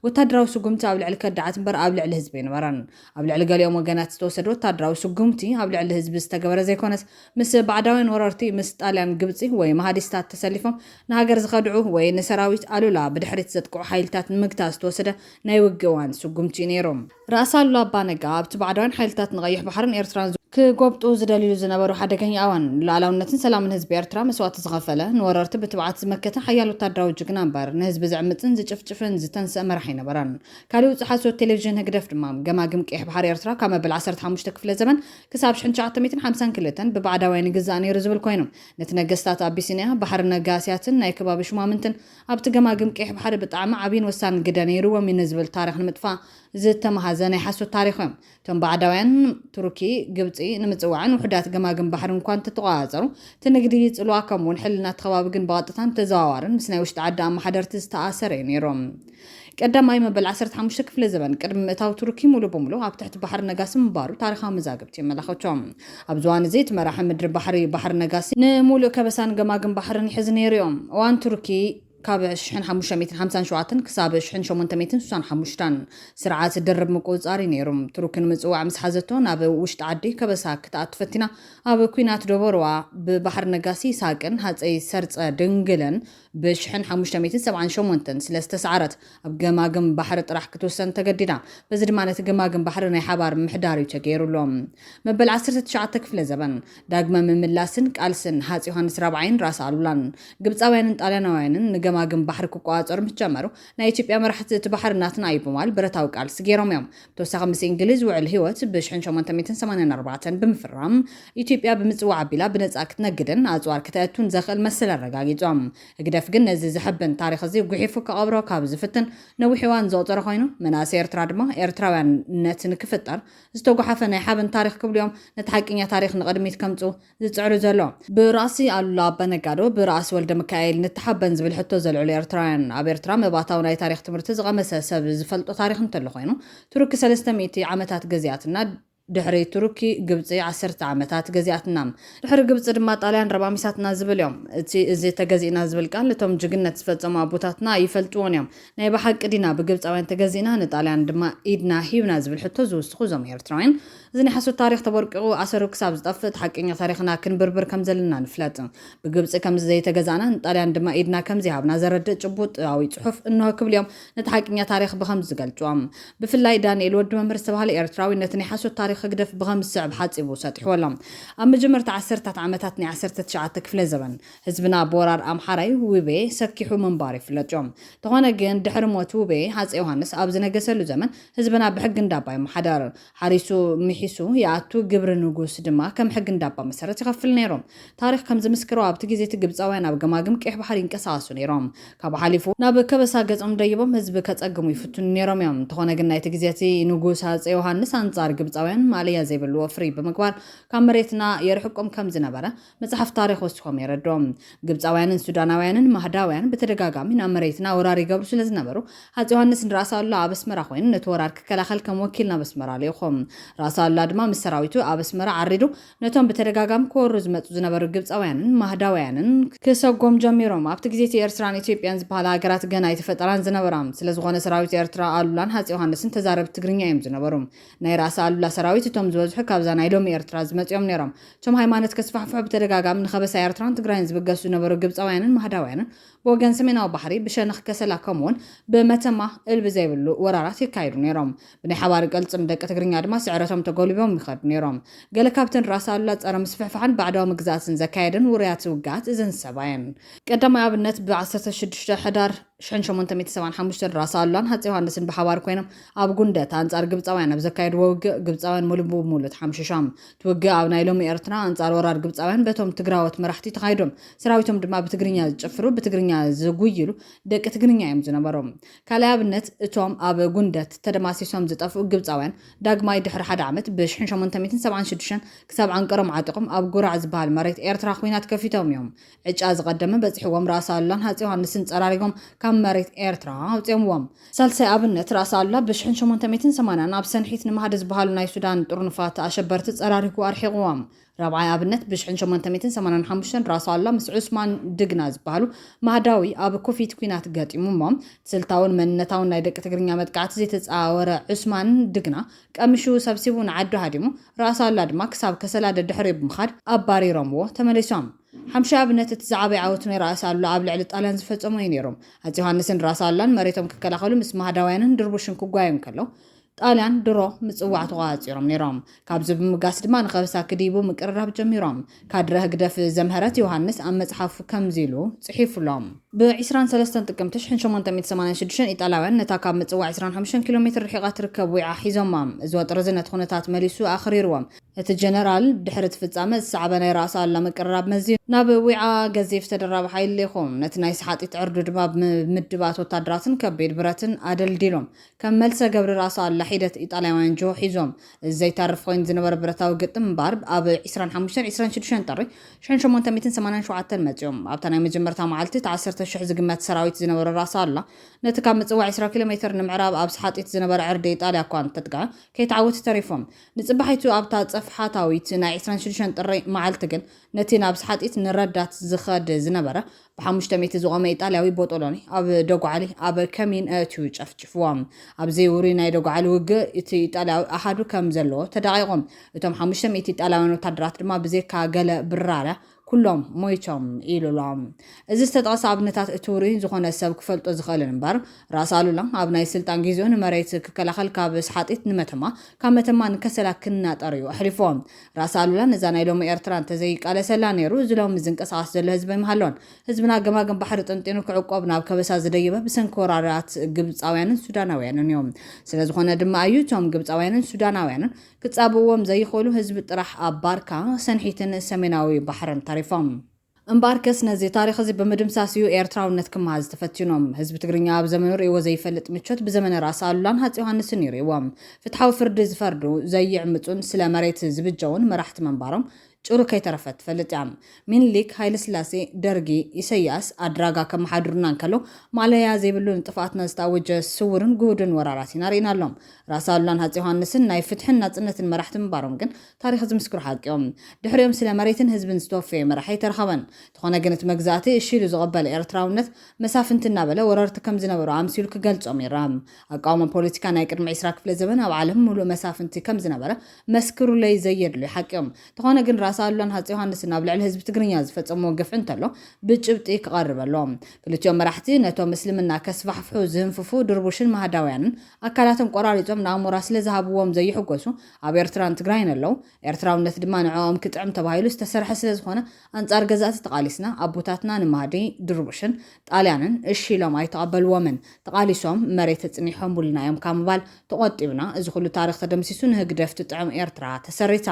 ወታደራዊ ስጉምቲ ኣብ ልዕሊ ከዳዓት እምበር ኣብ ልዕሊ ህዝቢ ኣይነበረን። ኣብ ልዕሊ ገሊኦም ወገናት ዝተወሰደ ወታደራዊ ስጉምቲ ኣብ ልዕሊ ህዝቢ ዝተገበረ ዘይኮነስ ምስ ባዕዳውያን ወረርቲ ምስ ጣልያን ግብፂ ወይ ማሃዲስታት ተሰሊፎም ንሃገር ዝኸድዑ ወይ ንሰራዊት ኣሉላ ብድሕሪት ዘጥቅዑ ሓይልታት ንምግታእ ዝተወሰደ ናይ ውግእዋን ስጉምቲ እዩ ነይሩ። ራእሲ ኣሉላ ኣባ ነጋ ኣብቲ ባዕዳውያን ሓይልታት ንቀይሕ ባሕርን ኤርትራን ክጎብጡ ዝደልይሉ ዝነበሩ ሓደገኛ ኣዋን፣ ንሉኣላውነትን ሰላምን ህዝቢ ኤርትራ መስዋእቲ ዝኸፈለ፣ ንወረርቲ ብትብዓት ዝመከተ ሓያል ወተሃደራዊ ጅግና እምበር፣ ንህዝቢ ዝዕምጽን ዝጭፍጭፍን ዝተንስእ መራሒ ኣይነበረን። ካሊእ ውጹእ ሓሶት ቴሌቪዥን ህግደፍ ድማ፣ ገማግም ቀይሕ ባሕሪ ኤርትራ ካብ መበል ዓሰርተ ሓሙሽተ ክፍለ ዘበን ክሳብ ሽሕን ትሽዓተ ሚእትን ሓምሳን ክልተን ብባዕዳውያን ይግዛእ ነይሩ ዝብል ኮይኑ፣ ነቲ ነገስታት ኣቢሲንያ፣ ባሕሪ ነጋስያትን ናይ ከባቢ ሹማምንትን፣ ኣብቲ ገማግም ቀይሕ ባሕሪ ብጣዕሚ ዓብይን ወሳንን ግደ ነይርዎም እዩ ንዝብል ታሪኽ ንምጥፋእ ዝተመሃዘ ናይ ሓሶት ታሪኽ እዩ። እቶም ባዕዳውያን፣ ቱርኪ፣ ግብፂ፣ ንምፅዋዕን ውሑዳት ገማግም ባሕሪ እኳ እንተተቖፃፀሩ እቲ ንግዲ ይፅልዋ ከምኡ'ውን ሕልና እቲ ከባቢ ግን ብቐጥታን ብተዘዋዋርን ምስ ናይ ውሽጢ ዓዲ ኣመሓደርቲ ዝተኣሰረ እዩ ነይሩ። ቀዳማይ መበል ዓሰርተ ሓሙሽተ ክፍለ ዘበን ቅድሚ ምእታው ቱርኪ ሙሉ ብሙሉ ኣብ ትሕቲ ባሕሪ ነጋሲ ምንባሩ ታሪኻዊ መዛግብቲ የመላኸቹ። ኣብ ዝዋን እዚ እቲ መራሒ ምድሪ ባሕሪ ባሕሪ ነጋሲ ንሙሉእ ከበሳን ገማግም ባሕርን ይሕዝ ነይሩ ዩ። እዋን ቱርኪ ካብ ሽሕን ሓሙሽተ ሚእትን ሓምሳን ሸውዓተን ክሳብ ሽሕን ሸሞንተ ሚእትን ስሳን ሓሙሽተን ስርዓት ድርብ ምቁጽጻር ዩ ነይሩ። ቱርኪ ንምጽዋዕ ምስ ሓዘቶ ናብ ውሽጢ ዓዲ ከበሳ ክትኣቱ ፈቲና ኣብ ኩናት ዶቦርዋ ብባሕሪ ነጋሲ ይስሃቅን ሃጸይ ሰርጸ ድንግልን ብ ሽሕን ሓሙሽተ ሚእትን ሰብዓን ሸሞንተን ስለ ዝተሳዕረት ኣብ ገማግም ባሕሪ ጥራሕ ክትውሰን ተገዲዳ። በዚ ድማ ነቲ ገማግም ባሕሪ ናይ ሓባር ምሕዳር እዩ ተገይሩሉ። መበል ዓሰርተ ትሽዓተ ክፍለ ዘበን፣ ዳግመ ምምላስን ቃልስን ሃጽ ዮሃንስ ራብዓይን ራስ ኣሉላን፣ ግብጻውያንን ጣልያናውያንን ንገማግም ባሕሪ ክቆጻጸሩ ምስ ጀመሩ፣ ናይ ኢትዮጵያ መራሕቲ እቲ ባሕሪ ናትና እዩ ብማል ብረታዊ ቃልሲ ገይሮም እዮም። ብተወሳኺ ምስ እንግሊዝ ውዕል ህይወት ብ ሽሕን ሸሞንተ ሚእትን ሰማንያን ኣርባዕተን ብምፍራም ኢትዮጵያ ብምጽዋዕ ኣቢላ ብነጻ ክትነግድን ኣጽዋር ክተእቱን ዘኽእል መሰል ኣረጋጊጾም። ህግደፍ ግን ነዚ ዘሐብን ታሪኽ እዚ ጉሒፉ ክቐብሮ ካብ ዝፍትን ነዊሕ እዋን ዘቑጸረ ኮይኑ፣ መናእሰይ ኤርትራ ድማ ኤርትራውያንነት ንክፍጠር ዝተጓሓፈ ናይ ሓበን ታሪኽ ክብሉ'ዮም ነቲ ሓቂኛ ታሪኽ ንቕድሚት ከምጽኡ ዝጽዕሩ ዘሎ። ብራእሲ ኣሉላ ኣባነጋዶ፣ ብራእሲ ወልደምካኤል ንተሓበን ዝብል ሕቶ ዘልዕሉ ኤርትራውያን። ኣብ ኤርትራ መባእታዊ ናይ ታሪኽ ትምህርቲ ዝቐመሰ ሰብ ዝፈልጦ ታሪኽ እንተሎ ኮይኑ፣ ቱርኪ ሰለስተ ሚእቲ ዓመታት ገዚኣትና፣ ድሕሪ ቱርኪ ግብጺ ዓሰርተ ዓመታት ገዚኣትና፣ ድሕሪ ግብጺ ድማ ጣልያን ረማሚሳትና ዝብል እዮም። እቲ እዚ ተገዚእና ዝብል ቃል እቶም ጅግነት ዝፈጸሙ ኣቦታትና ኣይፈልጥዎን እዮም። ናይ ብሓቂ ዲና ብግብጻውያን ተገዚእና ንጣልያን ድማ ኢድና ሂብና ዝብል ሕቶ ዝውስኹ እዞም ኤርትራውያን፣ እዚ ናይ ሓሶት ታሪኽ ተቦርቂቑ ኣሰሩ ክሳብ ዝጠፍእ እቲ ሓቀኛ ታሪኽና ክንብርብር ከም ዘለና ንፍለጥ። ብግብጺ ከምዚ ዘይተገዛእና ንጣልያን ድማ ኢድና ከም ዘይሃብና ዘረድእ ጭቡጥኣዊ ጽሑፍ እንሆ ክብሉ እዮም ነቲ ሓቀኛ ታሪኽ ብኸምዚ ዝገልጹዎ። ብፍላይ ዳንኤል ወዲ መምህር ዝተባህለ ኤርትራዊ ነቲ ናይ ሓሶት ታሪኽ ህግደፍ ብኸምዚ ዝስዕብ ሓጺቡ ሰጢሕዎ ኣሎ። ኣብ መጀመርታ ዓሰርታት ዓመታት ናይ ዓሰርተ ትሽዓተ ክፍለ ዘበን፣ ህዝብና ብወራር ኣምሓራይ፣ ውቤ፣ ሰኪሑ ምንባሩ ይፍለጥዮ። እንተኾነ ግን ድሕሪ ሞት ውቤ፣ ሃጸይ ዮሃንስ ኣብ ዝነገሰሉ ዘመን ህዝብና ብሕጊ እንዳባ ይመሓደር። ሓሪሱ ምሒሱ ይኣቱ ግብሪ ንጉስ ድማ ከም ሕጊ እንዳባ መሰረት ይኸፍል ነይሩ። ታሪኽ ከም ዝምስክሮ ኣብቲ ግዜ እቲ ግብጻውያን ኣብ ገማግም ቀይሕ ባሕሪ ይንቀሳቐሱ ነይሮም። ካብኡ ሓሊፉ ናብ ከበሳ ገጾም ደይቦም ህዝቢ ከጸግሙ ይፍትኑ ነይሮም እዮም። እንተኾነ ግን ናይቲ ግዜ እቲ ንጉስ ሃጸይ ዮሃንስ ኣንጻር ግብጻውያን ማእለያ ዘይብሉ ወፍሪ ብምግባር ካብ መሬትና የርሕቆም ከም ዝነበረ መጽሓፍ ታሪኽ ወሲኾም የረድኡ። ግብጻውያንን ሱዳናውያንን ማህዳውያን ብተደጋጋሚ ናብ መሬትና ወራር ይገብሩ ስለ ዝነበሩ፣ ሃጺይ ዮሃንስ ንራእሲ ኣሉላ ኣብ ኣስመራ ኮይኑ ነቲ ወራር ክከላኸል ከም ወኪል ናብ ኣስመራ ልኢኹ። ራእሲ ኣሉላ ድማ ምስ ሰራዊቱ ኣብ ኣስመራ ዓሪዱ ነቶም ብተደጋጋሚ ክወሩ ዝመጹ ዝነበሩ ግብጻውያንን ማህዳውያንን ክሰጎም ጀሚሮም። ኣብቲ ግዜ'ቲ ኤርትራን ኢትዮጵያን ዝበሃላ ሃገራት ገና ኣይተፈጠራን ዝነበራ። ስለ ዝኾነ ሰራዊት ኤርትራ፣ ኣሉላን ሃጺይ ዮሃንስን ተዛረብቲ ትግርኛ እዮም ዝነበሩ። ናይ ራእሲ ኣሉላ ሰራዊት እቶም ዝበዝሑ ካብዛ ናይ ሎሚ ኤርትራ ዝመጹ እዮም ነይሮም። እቶም ሃይማኖት ከስፋሕፍሑ ብተደጋጋሚ ንከበሳ ኤርትራን ትግራይን ዝብገሱ ዝነበሩ ግብጻውያንን ማህዳውያንን ብወገን ሰሜናዊ ባሕሪ ብሸነኽ ከሰላ ከምኡውን ብመተማ እልቢ ዘይብሉ ወራራት የካይዱ ነይሮም። ብናይ ሓባሪ ቅልጽም ደቂ ትግርኛ ድማ ስዕረቶም ተጎልቢቦም ይኸዱ ነይሮም። ገለ ካብተን ራእሲ ኣሉላ ጸረ ምስፍሕፋሕን ባዕዳዊ ምግዛእትን ዘካየደን ውሩያት ውግኣት እዘን ሰባየን። ቀዳማይ ኣብነት ብዓሰርተ ሽዱሽተ ሕዳር። ሽሕን ሸሞንተ ሚእቲ ሰብዓን ሓሙሽተን ራስ ኣሉላን ሃፄ ዮሃንስን ብሓባር ኮይኖም ኣብ ጉንደት ኣንጻር ግብጻውያን ኣብ ዘካየድዎ ውግእ ግብጻውያን ሙሉ ብሙሉ ተሓምሽሾም። እቲ ውግእ ኣብ ናይ ሎሚ ኤርትራ ኣንጻር ወራር ግብጻውያን በቶም ትግራዎት መራሕቲ ተኻይዶም። ሰራዊቶም ድማ ብትግርኛ ዝጭፍሩ ብትግርኛ ዝጉይሉ ደቂ ትግርኛ እዮም ዝነበሩ። ካልኣይ ኣብነት እቶም ኣብ ጉንደት ተደማሲሶም ዝጠፍኡ ግብጻውያን ዳግማይ ድሕሪ ሓደ ዓመት ብ ሽሕን ሸሞንተ ሚእትን ሰብዓን ሽዱሽተን ክሳብ ዓንቀሮም ዓጢቖም ኣብ ጉራዕ ዝበሃል መሬት ኤርትራ ኹናት ከፊቶም እዮም። ዕጫ ዝቐደመ በጺሕዎም ራእሲ ኣሉላን ሃጼ ዮሃንስን ጸራሪጎም ካብ መሬት ኤርትራ ኣውጺኦምዎም። ሳልሳይ ኣብነት ራእሲ ኣሉላ ብ ሽሕን ሸሞንተ ሚእትን ሰማንያን ኣብ ሰንሒት ንማህዲ ዝበሃሉ ናይ ሱዳን ጥርኑፋት ኣሸበርቲ ጸራሪጉ ኣርሒቑዎም። ራብዓይ ኣብነት ብ ሽሕን ሸሞንተ ሚእትን ሰማንያን ሓሙሽተን ራእሲ ኣሉላ ምስ ዑስማን ድግና ዝበሃሉ ማህዳዊ ኣብ ኩፊት ኩናት ገጢሙ እሞ ስልታውን መንነታውን ናይ ደቂ ትግርኛ መጥቃዕቲ ዘይተጻወረ ዑስማን ድግና ቀሚሹ ሰብሲቡ ንዓዱ ሃዲሙ ራእሲ ኣሉላ ድማ ክሳብ ከሰላ ደድሕሪኡ ብምኻድ ኣባሪሮምዎ ተመሊሶም። ሓምሻይ ኣብነት እቲ ዝዓበየ ዓወት ናይ ራእሲ ኣሉላ ኣብ ልዕሊ ጣልያን ዝፈጸሞ እዩ ነይሩ። ኣፄ ዮሃንስን ራስ ኣሉላን መሬቶም ክከላኸሉ ምስ ማህዳውያንን ድርቡሽን ክጓየዩ እንከለው፣ ጣልያን ድሮ ምጽዋዕ ተቖጻጺሮም ነይሮም። ካብዚ ብምብጋስ ድማ ንከበሳ ክድይቡ ምቅርራብ ጀሚሮም። ካድረ ህግደፍ ዘምሀረት ዮሃንስ ኣብ መጽሓፉ ከምዚ ኢሉ ጽሒፉ ኣሎ። ብ ዕስራን ሰለስተን ጥቅምቲ ሽሕን ሸሞንተ ሚእቲ ሰማንያን ሽዱሽተን ኢጣልያውያን ነታ ካብ ምጽዋዕ ዕስራን ሓሙሽተን ኪሎ ሜትር ርሒቓ ትርከብ ዊዓ ሒዞማ። እዚ ወጥሪዚ ነቲ ኩነታት መሊሱ ኣኽሪርዎ። እቲ ጀነራል፣ ድሕሪ እቲ ፍጻመ ዝሰዓበ ናይ ራእሲ ኣሉላ ምቅርራብ መዚኑ፣ ናብ ዊዓ ገዚፍ ተደራቢ ሓይሊ ልኢኹ። ነቲ ናይ ሰሓጢት ዕርዱ ድማ ብምድባት ወታደራትን ከቢድ ብረትን ኣደልዲሎም፣ ከም መልሰ ገብሪ ራእሲ ኣሉላ ሒደት ኢጣልያውያን ጅሆ ሒዞም። እዚ ዘይተርፍ ኮይኑ ዝነበረ ብረታዊ ግጥም እምበኣር፣ ኣብ ዕስራን ሓሙሽተን ዕስራን ሽዱሽተን ጥሪ ሽሕን ሸሞንተ ሚእትን ሰማንያን ሸውዓተን መጺኦም። ኣብታ ናይ መጀመርታ መዓልቲ፣ እቲ ዓሰርተ ሽሕ ዝግመት ሰራዊት ዝነበሮ ራእሲ ኣሉላ፣ ነቲ ካብ ምጽዋዕ ዕስራ ኪሎ ሜትር ንምዕራብ ኣብ ሰሓጢት ዝነበረ ዕርዲ ኢጣልያ እኳ እንተጥቅዐ፣ ከይተዓወቱ ተሪፎም። ንጽባሒቱ ኣብታ ጸፍሓታዊት ናይ ዕስራን ሽዱሽተን ጥሪ መዓልቲ ግን፣ ነቲ ናብ ስሓጢት ንረዳት ዝኸድ ዝነበረ ብሓሙሽተ ሚእቲ ዝቖመ ኢጣልያዊ ቦጦሎኒ ኣብ ደጉዓሊ ኣብ ከሚን ኣእትዩ ጨፍጭፍዎ። ኣብ'ዚ ውሩይ ናይ ደጉዓሊ ውግእ፣ እቲ ኢጣልያዊ ኣሃዱ ከም ዘለዎ ተዳቒቑ፣ እቶም ሓሙሽተ ሚእቲ ኢጣልያውያን ወተሃደራት ድማ ብዘይካ ገለ ብራርያ ኵሎም ሞይቶም ኢሉ ኣሎ። እዚ ዝተጠቕሰ ኣብነታት እቲ ውሩይ ዝኾነ ሰብ ክፈልጦ ዝኽእልን እምበር፣ ራስ ኣሉላ ኣብ ናይ ስልጣን ጊዜኡ ንመሬት ክከላኸል ካብ ስሓጢት ንመተማ፣ ካብ መተማ ንከሰላ ክናጠር እዩ ኣሕሊፍዎ። ራስ ኣሉላ ነዛ ናይ ሎሚ ኤርትራ እንተዘይቃለሰላ ነይሩ እዚ ሎሚ ዝንቀሳቐስ ዘሎ ህዝቢ ኣይምሃሎን። ህዝብና ገማግም ባሕሪ ጠንጢኑ ክዕቆብ ናብ ከበሳ ዝደየበ ብሰንኪ ወራራት ግብጻውያንን ሱዳናውያንን እዩ። ስለዝኾነ ድማ እዩ እቶም ግብጻውያንን ሱዳናውያንን፣ ክጻብእዎም ዘይኽእሉ ህዝቢ ጥራሕ ኣብ ባርካ፣ ሰንሒትን ሰሜናዊ ባሕርን ተሪፎም። እምበኣርከስ ነዚ ታሪኽ'ዚ ብምድምሳስ እዩ ኤርትራውነት ክመሃዝ ተፈቲኑ። ህዝቢ ትግርኛ ኣብ ዘመኑ ርእይዎ ዘይፈልጥ ምቾት ብዘመነ ራእሲ ኣሉላን ሃፄ ዮሃንስን እዩ ርእይዎ። ፍትሓዊ ፍርዲ ዝፈርዱ፣ ዘይዕምጹን ስለ መሬት ዝብጀዉን መራሕቲ ምንባሮም ጭሩ ከይተረፈት ትፈልጥ እያ። ሚኒሊክ፣ ሃይለስላሴ፣ ደርጊ፣ ኢሰያስ ኣድራጋ ከመሓድሩና እንከለው ማእለያ ዘይብሉ ንጥፍኣትና ዝተኣወጀ ስውርን ግሁድን ወራራት ኢና ርኢና ኣሎም። ራስ ኣሉላን ሃጼ ዮሃንስን ናይ ፍትሕን ናጽነትን መራሕቲ ምንባሮም ግን ታሪኽ ዝምስክሮ ሓቂ እዩ። ድሕሪኦም ስለ መሬትን ህዝብን ዝተወፈየ መራሒ ኣይተረኸበን። እንተኾነ ግን እቲ መግዛእቲ እሺ ኢሉ ዝቐበለ ኤርትራውነት መሳፍንቲ እናበለ ወረርቲ ከም ዝነበሩ ኣምሲሉ ክገልጾም ይርኣ። ኣቃውማ ፖለቲካ ናይ ቅድሚ ዕስራ ክፍለ ዘበን ኣብ ዓለም ምሉእ መሳፍንቲ ከም ዝነበረ መስክሩለይ ዘየድልዩ ሓቂ እዮም። እንተኾነ ግን ራስ ኣሉላን ሃፄ ዮሃንስን ኣብ ልዕሊ ህዝቢ ትግርኛ ዝፈፀምዎ ግፍዒ እንተሎ ብጭብጢ ክቐርብ ኣለዎ። ክልቲኦም መራሕቲ ነቶም እስልምና ከስፋሕፍሑ ዝህንፍፉ ድርቡሽን ማህዳውያንን ኣካላቶም ቆራሪፆም ንኣሞራ ስለዝሃብዎም ዘይሕጎሱ ኣብ ኤርትራን ትግራይን ኣለው። ኤርትራውነት ድማ ንዕኦም ክጥዕም ተባሂሉ ዝተሰርሐ ስለዝኾነ ኣንጻር ገዛእቲ ተቓሊስና ኣቦታትና ንማህዲ ድርቡሽን ጣልያንን እሺ ኢሎም ኣይተቐበልዎምን ተቓሊሶም መሬት እጽኒሖሙልና እዮም ካብ ምባል ተቖጢብና እዚ ኩሉ ታሪኽ ተደምሲሱ ንህግደፍ ትጥዕም ኤርትራ ተሰሪታ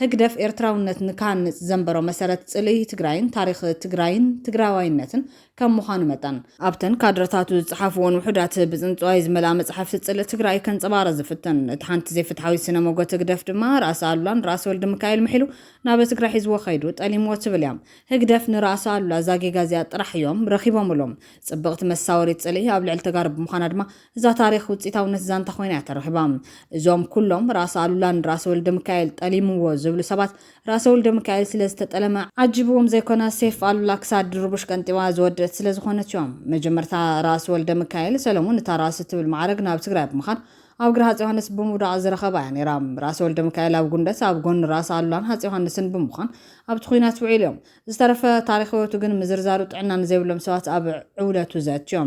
ህግደፍ ኤርትራውነት ንክሃንጽ ዘንበሮ መሰረት ጽልኢ ትግራይን ታሪኽ ትግራይን ትግራዋይነትን ከም ምዃኑ መጠን ኣብተን ካድረታቱ ዝጸሓፍዎን ውሑዳት ብጽንጽዋይ ዝመልኣ መጻሕፍቲ ጽልኢ ትግራይ ከንጸባርቕ ዝፍትን እቲ ሓንቲ ዘይፍትሓዊት ስነ ሞጎት ህግደፍ ድማ ራእሲ ኣሉላን ራእሲ ወልደሚካኤል ምሒሉ ናበ ትግራይ ሒዝዎ ከይዱ ጠሊምዎ ትብል እያ ህግደፍ ንራእሲ ኣሉላ እዛ ጌጋ እዚኣ ጥራሕ እዮም ረኺቦምሉ ጽብቕቲ መሳወሪት ጽልኢ ኣብ ልዕሊ ተጋሩ ብምዃና ድማ እዛ ታሪኽ ውጺታውነት ዛንታ ኮይና እያ ተረኺባ እዞም ኩሎም ራእሲ ኣሉላ ንራእሲ ወልደምካኤል ጠሊምዎ ዝብሉ ሰባት ራእሲ ወልደምካኤል ስለ ዝተጠለመ ዓጂብዎም ዘይኮነ ሴፍ ኣሉላ ክሳድ ድርቡሽ ቀንጢባ ዝወደእት ስለ ዝኾነት እዮ መጀመርታ ራእሲ ወልደምካኤል ሰለሙን እታ ራእሲ እትብል ማዕረግ ናብ ትግራይ ብምኻድ ኣብ እግሪ ሃጽይ ዮሃንስ ብምውዳቕ ዝረኸባ እያ ነይራ። ራስ ወልደሚካኤል ኣብ ጉንደት ኣብ ጎኒ ራስ ኣሉላን ሃጽይ ዮሃንስን ብምዃን ኣብቲ ኹናት ውዒሉ እዮም። ዝተረፈ ታሪኽ ህይወቱ ግን ምዝርዛሩ ጥዕና ንዘይብሎም ሰባት ኣብ ዕውለቱ ዘእትዮ።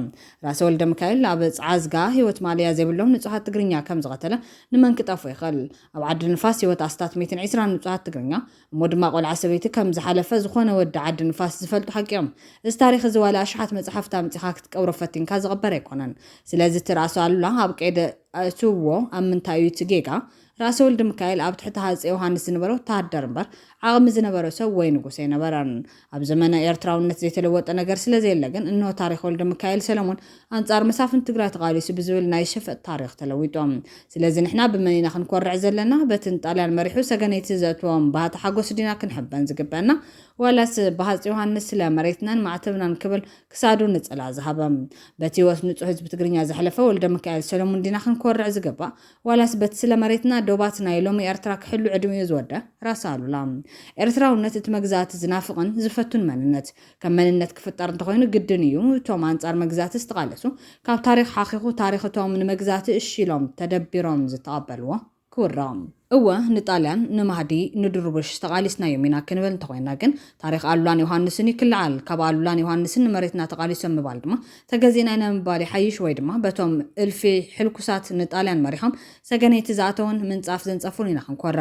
ራስ ወልደሚካኤል ኣብ ጸዓዝጋ ህይወት ማእለያ ዘይብሎም ንጹሃት ትግርኛ ከም ዝቐተለ ንመን ክጠፍኦ ይኽእል? ኣብ ዓዲ ንፋስ ህይወት ኣስታት ሚእትን ዒስራን ንጹሃት ትግርኛ እሞ ድማ ቆልዓ ሰበይቲ ከም ዝሓለፈ ዝኾነ ወዲ ዓዲ ንፋስ ዝፈልጡ ሓቂ እዮም። እዚ ታሪኽ እዚ ዋላ ኣሽሓት መጽሓፍቲ ኣምጺኻ ክትቀብሮ ፈቲንካ ዝቕበር ኣይኮነን። ስለዚ እቲ ራእሲ ኣሉላ ኣብ ቀይዲ ኣእትውዎ ኣብ ምንታይ እዩ እቲ ጌጋ? ራእሲ ወልድምካኤል ኣብ ትሕቲ ሃጼ ዮሃንስ ዝነበረ ወተሃደር እምበር ዓቕሚ ዝነበሮ ሰብ ወይ ንጉስ ኣይነበረን። ኣብ ዘመነ ኤርትራውነት ዘይተለወጠ ነገር ስለዘየለ ግን እንሆ ታሪኽ ወልደሚካኤል ሰለሙን ኣንጻር መሳፍንቲ ትግራይ ተቓሊሱ ብዝብል ናይ ሸፈጥ ታሪኽ ተለዊጡ። ስለዚ ንሕና ብመን ኢና ክንኮርዕ ዘለና? በቲ ንጣልያን መሪሑ ሰገነይቲ ዘእተዎም ባህታ ሓጎስ ዲና ክንሕበን ዝግበእና? ዋላስ ብሃጽ ዮሃንስ ስለ መሬትናን ማዕተብናን ክብል ክሳዱ ንጽላእ ዝሃበ በቲ ህይወት ንጹህ ህዝቢ ትግርኛ ዘሕለፈ ወልደሚካኤል ሰለሙን ዲና ክንኮርዕ ዝግባእ? ዋላስ በቲ ስለ መሬትና ዶባት ናይ ሎሚ ኤርትራ ክሕሉ ዕድሚኡ ዝወደ ራስ ኣሉላ። ኤርትራውነት እቲ መግዛእቲ ዝናፍቕን ዝፈቱን መንነት። ከም መንነት ክፍጠር እንተኾይኑ ግድን ኢዩ እቶም ኣንጻር መግዛእቲ ዝተቓለሱ ካብ ታሪኽ ሓኺኹ ታሪኽ እቶም ንመግዛእቲ እሺ ኢሎም ተደቢሮም ዝተቐበልዎ ክውረቕ። እወ ንጣልያን ንማህዲ ንድሩቡሽ ተቓሊስናዮም ኢና ክንብል እንተኾይና ግን ታሪኽ ኣሉላን ዮሃንስን ኢዩ ክልዓል። ካብ ኣሉላን ዮሃንስን ንመሬትና ተቓሊሶም ምባል ድማ ተገዚእና ኢና ምባል ይሓይሽ ወይ ድማ በቶም እልፊ ሕልኩሳት ንጣልያን መሪሖም ሰገነይቲ ዝኣተዉን ምንጻፍ ዘንጸፉን ኢና ክንኮራ።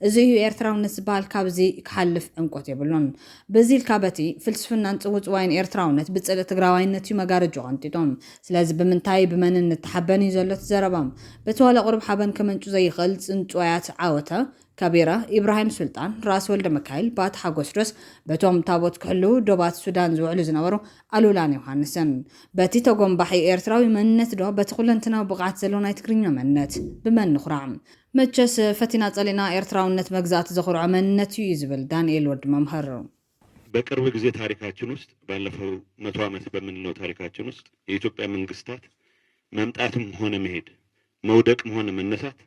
እዚ እዩ ኤርትራውነት ዝበሃል ካብዚ ክሓልፍ ዕምቆት የብሉን። በዚ ኢልካ በቲ ፍልስፍናን ጽውጽዋይን ኤርትራውነት ብጽልኢ ትግራዋይነት እዩ መጋረጅኡ ቀንጢጡ። ስለዚ ብምንታይ ብመንን ንተሓበን እዩ ዘሎ እቲ ዘረባ። በቲ ዋላ ቁሩብ ሓበን ከመንጩ ዘይኽእል ጽንጹዋያት ዓወተ፣ ከቢረ፣ ኢብራሂም ሱልጣን፣ ራስ ወልደመካይል፣ ባቲ ሓጎስ ዶስ በቶም ታቦት ክሕልዉ ዶባት ሱዳን ዝውዕሉ ዝነበሩ ኣሉላን ዮሃንስን በቲ ተጎምባሒ ኤርትራዊ መንነት ዶ በቲ ኩለንትናዊ ብቕዓት ዘሎ ናይ ትግርኛ መንነት ብመን ንኹራዕ? መቸስ ፈቲና ጸሊእና ኤርትራውነት መግዛእቲ ዘኹርዖ መንነት ኢዩ ዝብል ዳንኤል ወዲ መምህር። በቅርብ ጊዜ ታሪካችን ውስጥ ባለፈው መቶ ዓመት በምንለው ታሪካችን ውስጥ የኢትዮጵያ መንግስታት መምጣትም ሆነ መሄድ መውደቅም ሆነ መነሳት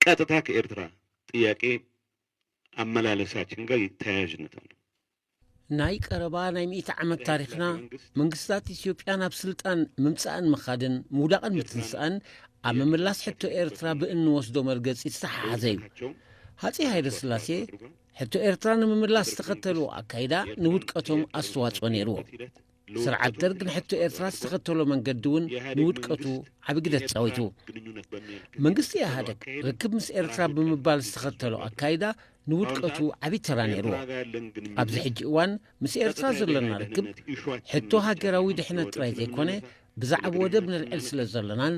ቀጥታ ከኤርትራ ጥያቄ ኣመላለሳችን ጋር ተያያዥነት ኣለው። ናይ ቀረባ ናይ ሚእቲ ዓመት ታሪኽና መንግስታት ኢትዮጵያ ናብ ስልጣን ምምጻእን ምኻድን ምውዳቕን ምትንሳእን ኣብ ምምላስ ሕቶ ኤርትራ ብእንወስዶ መርገጺ ዝተሓሓዘ እዩ ሃጺ ሃይለ ስላሴ ሕቶ ኤርትራ ንምምላስ ዝተኸተልዎ ኣካይዳ ንውድቀቶም ኣስተዋጽኦ ነይርዎ ስርዓት ደርግ ንሕቶ ኤርትራ ዝተኸተሎ መንገዲ እውን ንውድቀቱ ዓብ ግደ ተጻዊቱ መንግስቲ ኢህደግ ርክብ ምስ ኤርትራ ብምባል ዝተኸተሎ ኣካይዳ ንውድቀቱ ዓብ ተራ ነይርዎ ኣብዚ ሕጂ እዋን ምስ ኤርትራ ዘሎና ርክብ ሕቶ ሃገራዊ ድሕነት ጥራይ ዘይኮነ ብዛዕብ ወደብ ንልዕል ስለ ዘሎናን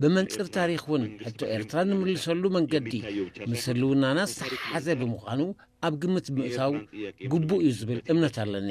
ብመንፅር ታሪክ እውን ሕቶ ኤርትራ ንምልሰሉ መንገዲ ምስ ህልውናና ዝተሓሓዘ ብምዃኑ ኣብ ግምት ብምእታው ግቡእ እዩ ዝብል እምነት ኣለኒ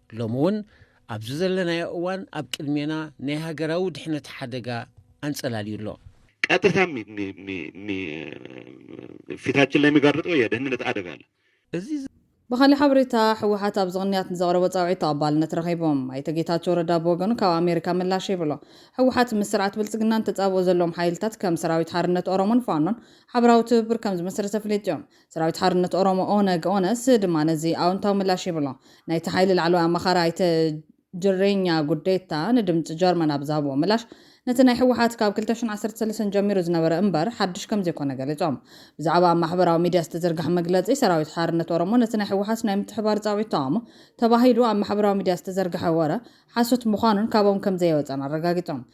ሎሚ እውን ኣብዚ ዘለናዮ እዋን ኣብ ቅድሜና ናይ ሃገራዊ ድሕነት ሓደጋ ኣንጸላልዩ ኣሎ። ቀጥታ ፊታችን ላይ የሚጋርጠው የደህንነት አደጋ አለ። እዚ ብኻሊእ ሓበሬታ ህወሓት ኣብዚ ቅንያት ንዘቕረቦ ፃውዒት ተቐባልነት ረኺቡ። ኣይተ ጌታቸው ረዳ ብወገኑ ካብ ኣሜሪካ ምላሽ ሂብሉ። ህወሓት ምስ ስርዓት ብልፅግና ንተፃብኦ ዘለዎም ሓይልታት ከም ሰራዊት ሓርነት ኦሮሞን ፋኖን ሓበራዊ ትብብር ከምዝመስረተ ኣፍሊጡ። ሰራዊት ሓርነት ኦሮሞ፣ ኦነግ፣ ኦነስ፣ ድማ ነዚ ኣውንታዊ ምላሽ ሂቡ'ሎ። ናይቲ ሓይሊ ላዕለዋይ ኣማኻሪ ኣይተ ጅሬኛ ጉዴታ ንድምጺ ጀርመን ኣብ ዝሃብዎ ምላሽ፣ ነቲ ናይ ህወሓት ካብ ክልተ ሽሕን ዓሰርተ ሰለስተን ጀሚሩ ዝነበረ እምበር ሓድሽ ከምዘይኮነ ገሊጾም። ብዛዕባ ኣብ ማሕበራዊ ሚድያ ዝተዘርግሐ መግለጺ ሰራዊት ሓርነት ኦሮሞ ነቲ ናይ ህወሓት ናይ ምትሕብባር ጻውዒት ተቓውሞ ተባሂሉ ኣብ ማሕበራዊ ሚድያ ዝተዘርግሐ ወረ ሓሶት ምዃኑን ካብኦም ከምዘየወጸን ኣረጋጊጾም።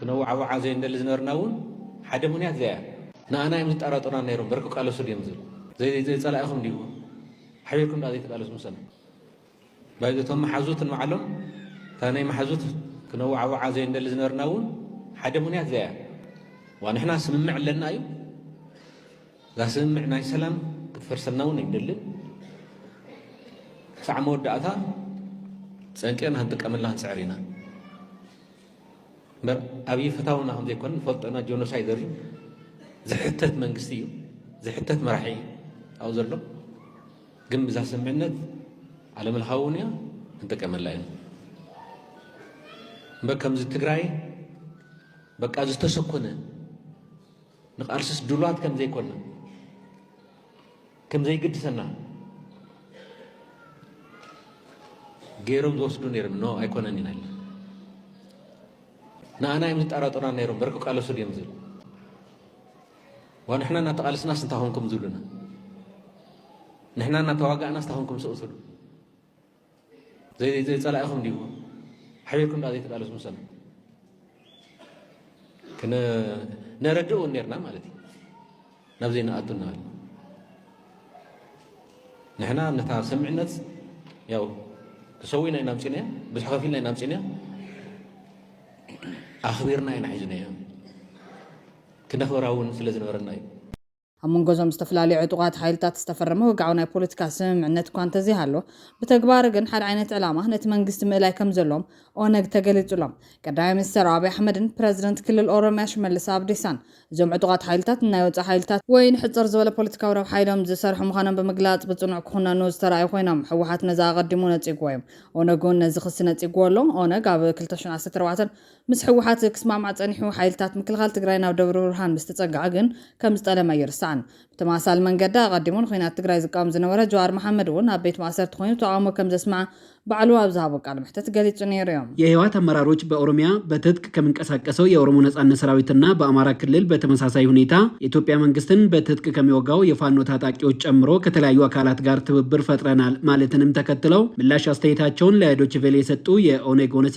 ክነዋዓውዓ ዘይንደሊ ዝነበርና እውን ሓደ ምኽንያት እዚኣ እያ። ንኣና እዮም ዝጣራጠሩና ነይሮም፣ እምበር ክቃለሱ ድዮም ዝብል። ዘይጸላኢኹም ድዩ? ሓቢርኩም ድኣ ዘይትቃለሱ ምሰና? ባይዘ እቶም መሓዙት ንባዕሎም እታ ናይ መሓዙት ክነዋዓውዓ ዘይንደሊ ዝነበርና እውን ሓደ ምኽንያት እዚኣ እያ። ዋ ንሕና ስምምዕ ኣለና እዩ እዛ ስምምዕ ናይ ሰላም ክትፈርሰልና እውን ኣይንደልን ክሳዕ መወዳእታ ፀንቂቕና ክንጥቀመላ ክንፅዕር ኢና እምበር ኣብዪ ፍታውና ከም ዘይኮነ ንፈልጦ ኢና። ጆኖሳይደር እዩ፣ ዝሕተት መንግስቲ እዩ፣ ዝሕተት መራሒ እዩ ኣብኡ ዘሎ። ግን ብዛ ስምምዕነት ዓለምለኻዊ እውን እያ ክንጥቀመላ ኢና እምበር ከምዚ ትግራይ በቃ ዝተሰኮነ ንቃልስስ ድሏት ከም ዘይኮና ከም ዘይግድሰና ገይሮም ዝወስዱ ነይሮም ኖ ኣይኮነን ኢና ንኣና እዮም ዝጠራጠሩና ነይሮም በርክ ቃለሱ ድዮም ዝብል ዋንሕና እናተቓልስናስ እንታይ ኮንኩም ዝብሉና ንሕና እናተዋጋእናስ እንታይ ኮንኩም ስቕ ትብሉ ዘይ ጸላኢኹም ድዩ ሓቢርኩም ዳ ዘይተቃለስኩም ሰብ ክነ ነረድእ እውን ነርና ማለት እዩ ናብ ዘይንኣቱ እናበለ ንሕና ነታ ሰምዕነት ያው ክሰዊና ኢና ምፅናዮ ብዙሕ ከፊልና ኢና ምፅናዮ ኣኽቢርና ኢና ሒዝናዮ ክነኽብራ እውን ስለ ዝነበረና እዩ ኣብ መንጎ እዞም ዝተፈላለዩ ዕጡቓት ሓይልታት ዝተፈረመ ወግዓዊ ናይ ፖለቲካ ስምምዕነት እኳ እንተዘይሃሎ፣ ብተግባር ግን ሓደ ዓይነት ዕላማ ነቲ መንግስቲ ምእላይ ከምዘለዎም ኦነግ ተገሊጹሎም። ቀዳማይ ሚኒስተር ኣብይ ኣሕመድን ፕረዚደንት ክልል ኦሮሚያ ሽመልስ ኣብዲሳን፣ እዞም ዕጡቓት ሓይልታት ንናይ ወጻኢ ሓይልታት፣ ወይ ንሕጽር ዝበለ ፖለቲካዊ ረብሓ ኢሎም ዝሰርሑ ምዃኖም ብምግላጽ ብጽኑዕ ክኹነኑ ዝተራእዩ ኮይኖም፣ ህወሓት ነዚ ኣቐዲሙ ነጺጉዎ'ዩ። ኦነግ'ውን ነዚ ክሲ ነጺጉዎ'ሎ። ኦነግ ኣብ ክልተ ሽሕ ዓሰርተ ኣርባዕተ ምስ ህወሓት ክስማዕማዕ ፀኒሑ ሓይልታት ምክልኻል ትግራይ ናብ ደብረብርሃን ምስ ተፀግዐ ግን ከም ዝጠለመ ኣይርሳዕን። ብተመሳሳሊ መንገዲ ኣቐዲሙ ንኹናት ትግራይ ዝቃወም ዝነበረ ጀዋር መሓመድ እውን ኣብ ቤት ማእሰርቲ ኮይኑ ተቓውሞ ከም ዘስመዐ ባዕሉ ኣብ ዝሃቦ ቃለ መሕተት ገሊፁ ነይሩ እዩ። የህወሓት ኣመራሮች በኦሮሚያ በትጥቅ ከሚንቀሳቀሰው የኦሮሞ ነፃነት ሰራዊት እና በአማራ ክልል በተመሳሳይ ሁኔታ የኢትዮጵያ መንግስትን በትጥቅ ከሚወጋው የፋኖ ታጣቂዎች ጨምሮ ከተለያዩ አካላት ጋር ትብብር ፈጥረናል ማለትንም ተከትለው ምላሽ አስተያየታቸውን ለዶችቬሌ የሰጡ የኦነግ ኦነሴ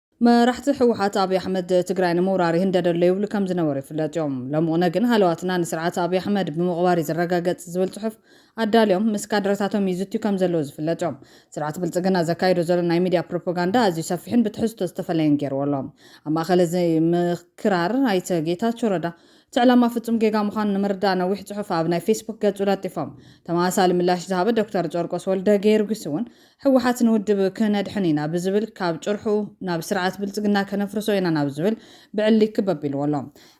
መራሕቲ ህወሓት ኣብይ ኣሕመድ ትግራይ ንምውራር ይህንደድ ኣሎ ይብሉ ከም ዝነበሩ ይፍለጥ እዩ። ሎሚ ቕነ ግን ሃለዋትና ንስርዓት ኣብይ ኣሕመድ ብምቕባር እዩ ዝረጋገፅ ዝብል ፅሑፍ ኣዳልዮም ምስ ካድረታቶም ይዝትዩ ከም ዘለዉ ዝፍለጥ እዩ። ስርዓት ብልፅግና ዘካይዶ ዘሎ ናይ ሚድያ ፕሮፖጋንዳ ኣዝዩ ሰፊሕን ብትሕዝቶ ዝተፈለየን ገይርዎ ኣሎ። ኣብ ማእኸል እዚ ምክራር ኣይተ ጌታቸው ረዳ እቲ ዕላማ ፍፁም ጌጋ ምዃኑ ንምርዳእ ነዊሕ ፅሑፍ ኣብ ናይ ፌስቡክ ገፁ ለጢፎም። ተመሳሳሊ ምላሽ ዝሃበ ዶክተር ጨርቆስ ወልደጌርጊስ እውን ህወሓት ንውድብ ክነድሕን ኢና ብዝብል ካብ ጭርሑ ናብ ስርዓት ብልፅግና ከነፍርሶ ኢና ናብ ዝብል ብዕሊ ክበብ ኢልዎ ኣሎ።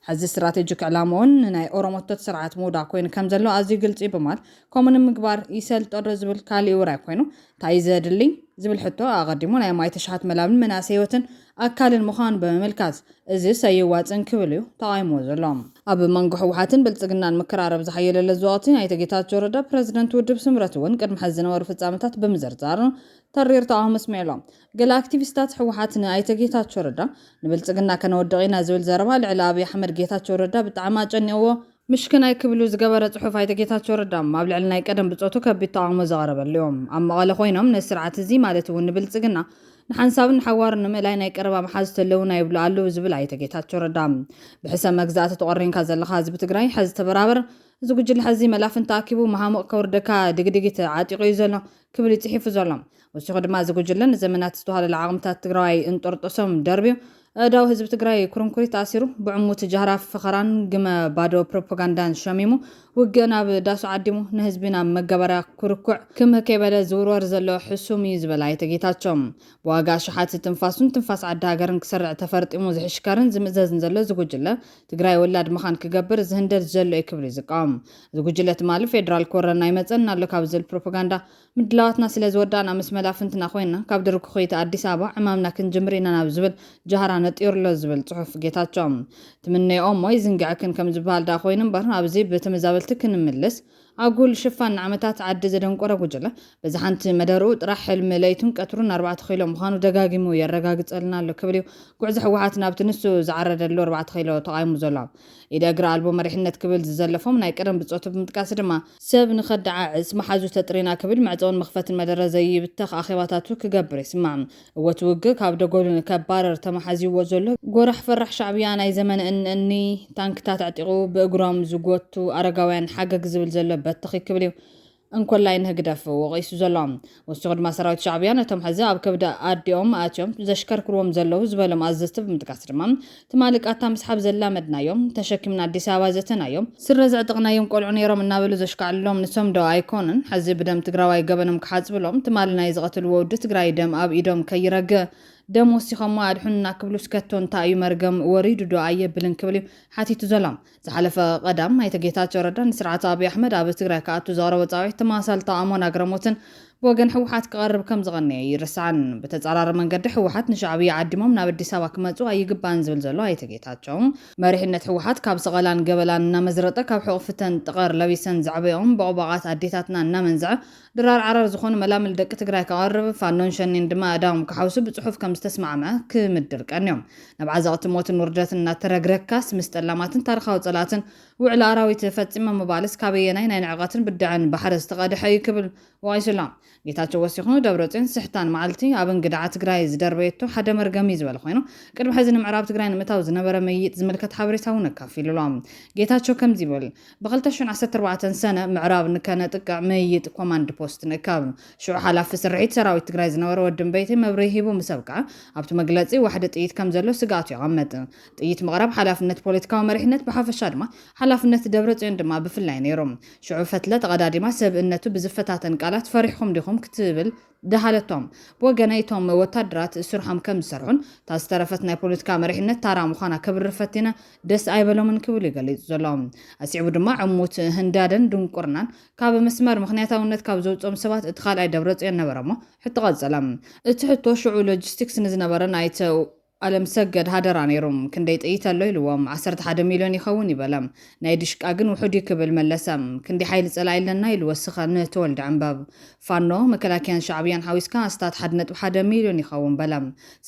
ሐዚ ስትራቴጂክ ዕላምኡን ንናይ ኦሮሞቶት ስርዓት ምውዳእ ኮይኑ ከምዘሎ ኣዝዩ ግልፂ ብማል ከምኡ ንምግባር ይሰልጦ ዶ ዝብል ካሊእ ውራይ ኮይኑ ታይ እዩ ዘድሊ ዝብል ሕቶ ኣቐዲሙ ናይ ማይ ተሽሓት መላብን መናእሰይ ህይወትን ኣካልን ምዃኑ ብምምልካት፣ እዚ ሰይዋጽን ክብል እዩ ተቓዊምዎ ዘሎ። ኣብ መንጎ ህወሓትን ብልጽግናን ምክራረብ ዝሓየለለ እዚ ወቕቲ፣ ኣይተ ጌታቸው ረዳ ፕረዚደንት ውድብ ስምረት እውን ቅድሚ ሕዚ ዝነበሩ ፍጻመታት ብምዝርዛር ተሪር ተቓውሞ ኣስሚዑ ኣሎ። ገለ ኣክቲቪስታት ህወሓት ንኣይተ ጌታቸው ረዳ ንብልጽግና ከነወድቕ ኢና ዝብል ዘረባ ልዕሊ ኣብይ ኣሕመድ ጌታቸው ረዳ ብጣዕሚ ኣጨኒቕዎ ምሽክናይ ክብሉ ዝገበረ ጽሑፍ ኣይተ ጌታቸው ረዳ ኣብ ልዕሊ ናይ ቀደም ብጾቱ ከቢድ ተቓውሞ ዘቐረበሉ እዩ። ኣብ መቐለ ኮይኖም ነዚ ስርዓት እዚ ማለት እውን ንብልጽግና ንሓንሳብን ንሓዋሩን ንምእላይ ናይ ቀረባ መሓዙት ኣለዉና ይብሉ ኣለዉ ዝብል ኣይተ ጌታቸው ረዳ ብሕሰም መግዛእቲ ተቖሪንካ ዘለኻ ህዝቢ ትግራይ ሐዚ ተበራበር እዚ ጉጅለ ሐዚ መላፍንቲ ኣኪቡ መሃሙቕ ከውርደካ ድግድጊት ዓጢቑ እዩ ዘሎ ክብል እዩ ጽሒፉ ዘሎ። ወሲኹ ድማ እዚ ጉጅለ ንዘመናት ዝተዋህለለ ዓቕምታት ትግራዋይ እንጦርጦሶም ደርብዩ፣ ኣእዳው ህዝቢ ትግራይ ኩርንኩሪት ኣሲሩ፣ ብዕሙት ጃህራ ፈኸራን ግመ ባዶ ፕሮፖጋንዳን ሸሚሙ፣ ውግእ ናብ ዳሱ ዓዲሙ፣ ንህዝቢ ናብ መጋበርያ ኩርኩዕ ክምህ ከይበለ ዝውርወር ዘሎ ሕሱም እዩ ዝበለ ኣይተ ጌታቸው፣ ብዋጋ ኣሽሓት ትንፋሱን ትንፋስ ዓዲ ሃገርን ክሰርዕ ተፈርጢሙ ዝሕሽከርን ዝምእዘዝን ዘሎ እዚ ጉጅለ፣ ትግራይ ወላድ መኻን ክገብር ዝህንደድ ዘሎ እዩ ክብል'ዩ ዝቃወም። እዚ ጉጅለ ትማሊ ፌደራል ክወረና ይመጸና ኣሎ ካብ ዝብል ፕሮፖጋንዳ ምድላዋትና ስለ ዝወዳእና ምስ መላፍንትና ኮይና ካብ ድርኩኺቲ ኣዲስ ኣበባ ዕማምና ክንጅምር ኢና ናብ ዝብል ጃህራ ነጢሩ ኣሎ ዝብል ጽሑፍ ጌታቸው ትምነይኦ እሞ ይዝንግዐክን ከም ዝበሃል ደኣ ኮይኑ እምበር ኣብዚ ብተመዛበልቲ ክንምልስ ኣጉል ሽፋን ንዓመታት ዓዲ ዘደንቆረ ጉጅለ በዚ ሓንቲ መደርኡ ጥራሕ ሕልሚ ለይቱን ቀትሩን ኣርባዕተ ኪሎ ምዃኑ ደጋጊሙ የረጋግጸልና ኣሎ ክብል እዩ ጉዕዞ ህወሓት ናብቲ ንሱ ዝዓረደሉ ኣርባዕተ ኪሎ ተቓዊሙ ዘሎ ኢደ እግሪ ኣልቦ መሪሕነት ክብል ዝዘለፎም ናይ ቀደም ብጾቱ ብምጥቃስ ድማ፣ ሰብ ንኸደዓዕስ መሓዙ ተጥሪና ክብል መዕጸውን መኽፈትን መደረ ዘይብተኽ ኣኼባታቱ ክገብር ይስማዕ። እወ እቲ ውግእ ካብ ደጎሉ ንከባርር ተመሓዚዎ ዘሎ ጎራሕ ፈራሕ ሻዕብያ ናይ ዘመነ እኒ እኒ ታንክታት ኣዕጢቑ ብእግሮም ዝጎቱ ኣረጋውያን ሓገግ ዝብል ዘሎ በተኺ ክብል'ዩ። እንኮላይ ንህግደፍ ወቒሱ ዘሎ። ወሲኹ ድማ ሰራዊት ሻዕብያ ነቶም ሕዚ ኣብ ከብዲ ኣዲኦም ኣእትዮም ዘሽከርክርዎም ዘለዉ ዝበሎም ኣዘዝቲ ብምጥቃስ ድማ ትማሊ ቃታ ምስሓብ ዘላመድናዮ፣ ተሸኪምና ኣዲስ ኣበባ ዘእተናዮ፣ ስረ ዘዕጠቕናዮም ቆልዑ ነይሮም እናበሉ ዘሽካዕልሎም ንሶም ዶ ኣይኮኑን ሕዚ ብደም ትግራዋይ ገበኖም ክሓጽብሎም ትማሊ ናይ ዝቐተልዎ ወዲ ትግራይ ደም ኣብ ኢዶም ከይረግ ደም ወሲኾሞ ኣድሑኑና ክብሉስ ከቶ እንታይ እዩ መርገም ወሪዱ ዶ ኣየብልን ክብል እዩ ሓቲቱ ዘሎ። ዝሓለፈ ቀዳም ኣይተ ጌታቸው ረዳ ንስርዓት ኣብይ ኣሕመድ ኣብ ትግራይ ክኣቱ ዘቕረቦ ፃዊዒት ተመሳሳሊ ተቓውሞን ኣግራሞትን ብወገን ህወሓት ክቐርብ ከምዝቐነየ ኣይርሳዕን። ብተፃራሪ መንገዲ ህወሓት ንሻዕብያ ዓዲሞም ናብ ኣዲስ ኣበባ ክመፁ ኣይግባእን ዝብል ዘሎ ኣይተ ጌታቸው፣ መሪሕነት ህወሓት ካብ ሰቐላን ገበላን እናመዝረጠ ካብ ሕቑፊተን ጠቐር ለቢሰን ዘዕበየኦም ቦቕቧቓት ኣዴታትና እናመንዘዐ ድራር ዓራር ዝኾኑ መላምል ደቂ ትግራይ ከቐርብ፣ ፋኖን ሸኔን ድማ ኣእዳዎም ክሓውሱ ብጽሑፍ ከም ዝተስማዕምዐ ክምድር ቀንዮም። ናብ ዓዘቕቲ ሞትን ውርደትን እናተረግረግካስ ምስ ጠላማትን ታርኻዊ ጸላእትን ውዕል ኣራዊት ፈጺመ ምባልስ ካበየናይ ናይ ንዕቐትን ብድዐን ባሕሪ ዝተቐድሐ እዩ ክብል ወቒሱ ኣሎ። ጌታቸው ወሲኹ፣ ደብረጽዮን ስሕታን መዓልቲ ኣብ እንግድዓ ትግራይ ዝደርበየቶ ሓደ መርገም እዩ ዝበለ ኮይኑ፣ ቅድሚ ሕዚ ንምዕራብ ትግራይ ንምእታው ዝነበረ ምይይጥ ዝምልከት ሓበሬታ'ውን ኣካፊሉ ኣሎ። ጌታቸው ከምዚ ይብል። ብ ክልተ ሽሕን ዓሰርተ ኣርባዕተን ሰነ ምዕራብ ንከነጥቅዕ ምይይጥ ኮማንድ ፖስት ንእካብ። ሽዑ ሓላፊ ስርሒት ሰራዊት ትግራይ ዝነበረ ወዲ እምበይተይ መብርሂ ሂቡ ምስ ኣብቅዐ፣ ኣብቲ መግለጺ ዋሕዲ ጥይት ከም ዘሎ ስግኣቱ የቐምጥ። ጥይት ምቕራብ ሓላፍነት ፖለቲካዊ መሪሕነት ብሓፈሻ ድማ ሓላፍነት ደብረጽዮን ድማ ብፍላይ ነይሩ። ሽዑ ፈትለ ተቐዳዲማ ሰብእነቱ ብዝፈታተን ቃላት ፈሪሕኹም ዲኹም ክትብል ድሃለቶም። ብወገነይ እቶም ወታደራት ስርሖም ከም ዝሰርሑን እታ ዝተረፈት ናይ ፖለቲካ መሪሕነት ታራ ምዃና ከብርር ፈቲነ ደስ ኣይበሎምን ክብል እዩ ገሊጹ ዘሎ። ኣስዒቡ ድማ ዕሙት ህንዳደን ድንቁርናን ካብ መስመር ምኽንያታውነት ካብ ዘውጽኦም ሰባት እቲ ካልኣይ ደብረጽዮን ነበረ'ሞ ሕቶ ቀጸለ። እቲ ሕቶ ሽዑ ሎጂስቲክስ ንዝነበረ ናይቲ ኣለምሰገድ ሃደራ ነይሩ ክንደይ ጥይት ኣሎ ኢልዎም ዓሰርተ ሓደ ሚልዮን ይኸውን ኢበለ ናይ ዲሽቃ ግን ውሑድ እዩ ክብል መለሰ ክንደይ ሓይሊ ጸላኢ ኣለና ኢሉ ወስኸ ን ተወልደ ዕንበብ ፋኖ መከላከያን ሻዕብያን ሓዊስካ ኣስታት ሓደ ነጥቢ ሓደ ሚልዮን ይኸውን በለ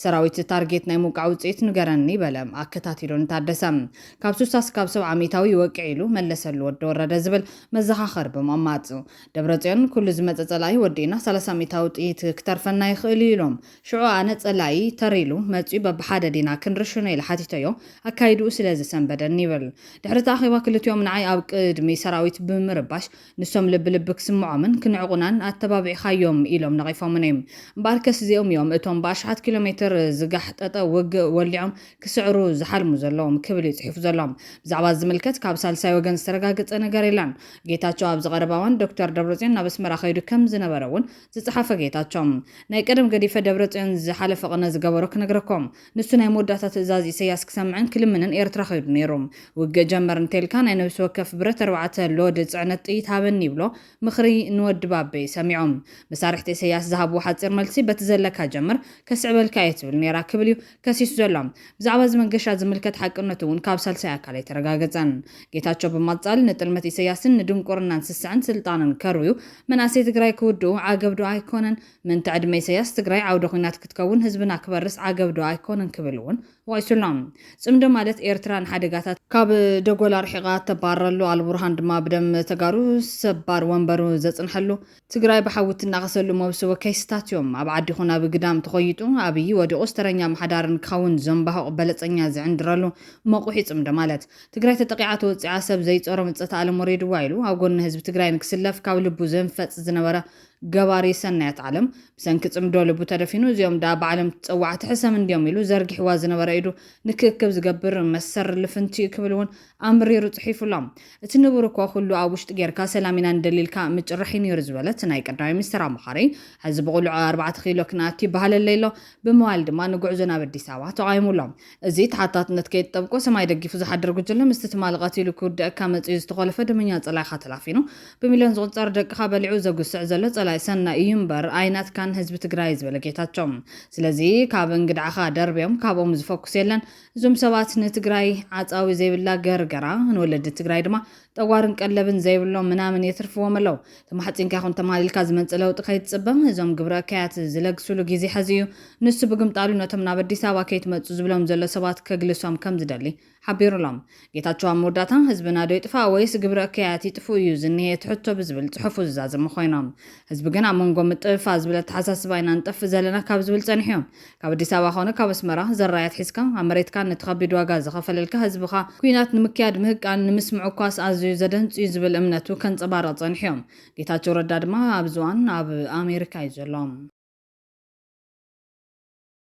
ሰራዊት ታርጌት ናይ ምውቃዕ ውጽኢት ንገረኒ በለ ኣከታቲሉ ንታደሰ ካብ ሱሳ ስካብ ሰብዓ ሚታዊ ይወቅዕ ኢሉ መለሰሉ ወዲ ወረደ ዝብል መዘኻኸሪ ብምቕማጥ ደብረጽዮን ኩሉ ዝመጸ ጸላኢ ወዲእና ሰላሳ ሚታዊ ጥይት ክተርፈና ይኽእል እዩ ኢሎም ሽዑ ኣነ ጸላኢ ተር ኢሉ መጺኡ በብሓደ ዲና ክንርሽኖ ኢለ ሓቲተዮ፣ ኣካይድኡ ስለ ዝሰንበደኒ ይብል። ድሕሪ'ቲ ኣኼባ ክልቲኦም ንዓይ ኣብ ቅድሚ ሰራዊት ብምርባሽ ንሶም ልቢ ልቢ ክስምዖምን ክንዕቁናን ኣተባቢዕካዮም ኢሎም ነቒፎሙኒ። እምበኣርከስ እዚኦም እዮም እቶም ብኣሽሓት ኪሎ ሜትር ዝጋሕጠጠ ውግእ ወሊዖም ክስዕሩ ዝሓልሙ ዘለዉ ክብል እዩ ጽሒፉ ዘሎ። ብዛዕባ'ዚ ዝምልከት ካብ ሳልሳይ ወገን ዝተረጋገጸ ነገር የለን። ጌታቸው ኣብዚ ቀረባ እዋን ዶክተር ደብረጽዮን ናብ ኣስመራ ከይዱ ከም ዝነበረ'ውን ዝጸሓፈ ጌታቸው ናይ ቀደም ገዲፈ ደብረጽዮን ዝሓለፈ ቅነ ዝገበሮ ክነግረኩም ንሱ ናይ መወዳእታ ትእዛዝ ኢሰያስ ክሰምዕን ክልምንን ኤርትራ ከይዱ ነይሩ ውግእ ጀመር እንተኢልካ ናይ ነብሲ ወከፍ ብረት ኣርባዕተ ሎድ ጽዕነት ጥይት ሃበኒ ይብሎ ምኽሪ ንወዲ ባበይ ሰሚዑ መሳርሕቲ ኢሰያስ ዝሃብዎ ሓጺር መልሲ በቲ ዘለካ ጀምር ከስዕበልካ እየ ትብል ነይራ ክብል እዩ ከሲሱ ዘሎ። ብዛዕባ እዚ መንገሻ ዝምልከት ሓቅነቱ እውን ካብ ሳልሳይ ኣካል ኣይተረጋገፀን። ጌታቸው ብማፃል ንጥልመት ኢሰያስን ንድንቁርናን ስስዐን ስልጣንን ከርውዩ መናእሰይ ትግራይ ክውድኡ ዓገብ ዶ ኣይኮነን? ምእንተ ዕድመ ኢሰያስ ትግራይ ዓውደ ኹናት ክትከውን ህዝብና ክበርስ ዓገብ ዶ ኣይኮነን ክብል እውን ወቒሱ ኣሎ። ፅምዶ ማለት ኤርትራ ንሓደጋታት። ካብ ደጎል ኣርሒቓ እተባርረሉ፣ ኣልቡርሃን ድማ ብደም ተጋሩ ሰባር ወንበሩ ዘፅንሐሉ፣ ትግራይ ብሓዊ እትናኸሰሉ መውስቦ ኬስታት እዮም። ኣብ ዓዲ ኹን ኣብ ግዳም ተኾይጡ ኣብይ ወዲቑስ ተረኛ ኣምሓዳርን ክኸውን ዘምባሁቕ በለፀኛ ዝዕንድረሉ መቑሕ ይፅምዶ ማለት። ትግራይ ተጠቒዓ ተወፂዓ ሰብ ዘይፀሮ ምፀት ኣለም ወሪድዋ ኢሉ ኣብ ጎኒ ህዝቢ ትግራይ ንክስለፍ ካብ ልቡ ዘንፈፅ ዝነበረ ገባሪ ሰናያት ዓለም ብሰንኪ ፅምዶ ልቡ ተደፊኑ እዚኦም ድኣ ባዕለም ፀዋዕቲ ሕሰም እንድዮም ኢሉ ዘርጊሕዋ ዝነበረ ኢዱ ንክእክብ ዝገብር መሰሪ ልፍንቲ እዩ ክብል እውን ኣምሪሩ ጽሒፉ ኣሎ። እቲ ንቡር እኮ ኩሉ ኣብ ውሽጢ ጌርካ ሰላም ኢና ንደሊ ኢልካ ምጭራሕ እዩ ኔሩ ዝበለ እቲ ናይ ቀዳማይ ሚኒስተር ኣማኻሪ፣ ሕዚ ብቕሉዕ ኣርባዕተ ኪሎ ክንኣቱ ይበሃለለይ ኣሎ ብምባል ድማ ንጉዕዞ ናብ ኣዲስ ኣበባ ተቓዊሙ ኣሎ። እዚ ተሓታትነት ከየትጠብቆ ሰማይ ደጊፉ ዝሓድር ጉጅለ ምስቲ ትማሊ ቀቲሉ ክውድኣካ መጺኡ ዝተኾለፈ ደመኛ ጸላኢኻ ተላፊኑ ብሚልዮን ዝቑጸር ደቅኻ በሊዑ ዘጉስዕ ዘሎ ጸላኢ ሰናይ እዩ እምበር ኣይናትካን ህዝቢ ትግራይ ዝበለ ጌታቸው ስለዚ ካብ እንግድዓኻ ደርብዮም ካብኦም ዝፈኩስ የለን እዞም ሰባት ንትግራይ ዓፃዊ ዘይብላ ገርገራ ንወለዲ ትግራይ ድማ ጠዋርን ቀለብን ዘይብሎም ምናምን የትርፍዎም ኣለው። ተማሕፂንካ ይኹን ተማሊልካ ዝመፅእ ለውጢ ከይትፅበ። እዞም ግብረ እከያት ዝለግስሉ ጊዜ ሐዚ እዩ። ንሱ ብግምጣሉ ነቶም ናብ ኣዲስ ኣበባ ከይትመፁ ዝብሎም ዘሎ ሰባት ከግልሶም ከምዝደሊ ሓቢሩሎም። ጌታቸው ኣብ መወዳእታ ህዝብና ዶ ይጥፋእ ወይስ ግብረ እከያት ይጥፍኡ እዩ ዝኒሀ እቲ ሕቶ ብዝብል ፅሑፉ ዝዛዘሙ ኮይኖም ህዝቢ ግን ኣብ መንጎ ምጥፍፋእ ዝብል ኣተሓሳስባ ኢና ንጠፍእ ዘለና ካብ ዝብል ፀኒሑ እዩ። ካብ ኣዲስ ኣበባ ኮነ ካብ ኣስመራ ዘራይ ኣትሒዝካ ኣብ መሬትካን ነቲ ከቢድ ዋጋ ዝኸፈለልካ ህዝብኻ ኩናት ንምክያድ ምህቃን ንምስምዑ እኳስ ኣዝዩ ዘደንፅ እዩ ዝብል እምነቱ ከንፀባርቕ ፀኒሑ እዩ። ጌታቸው ረዳ ድማ ኣብዚ እዋን ኣብ ኣሜሪካ እዩ ዘሎ።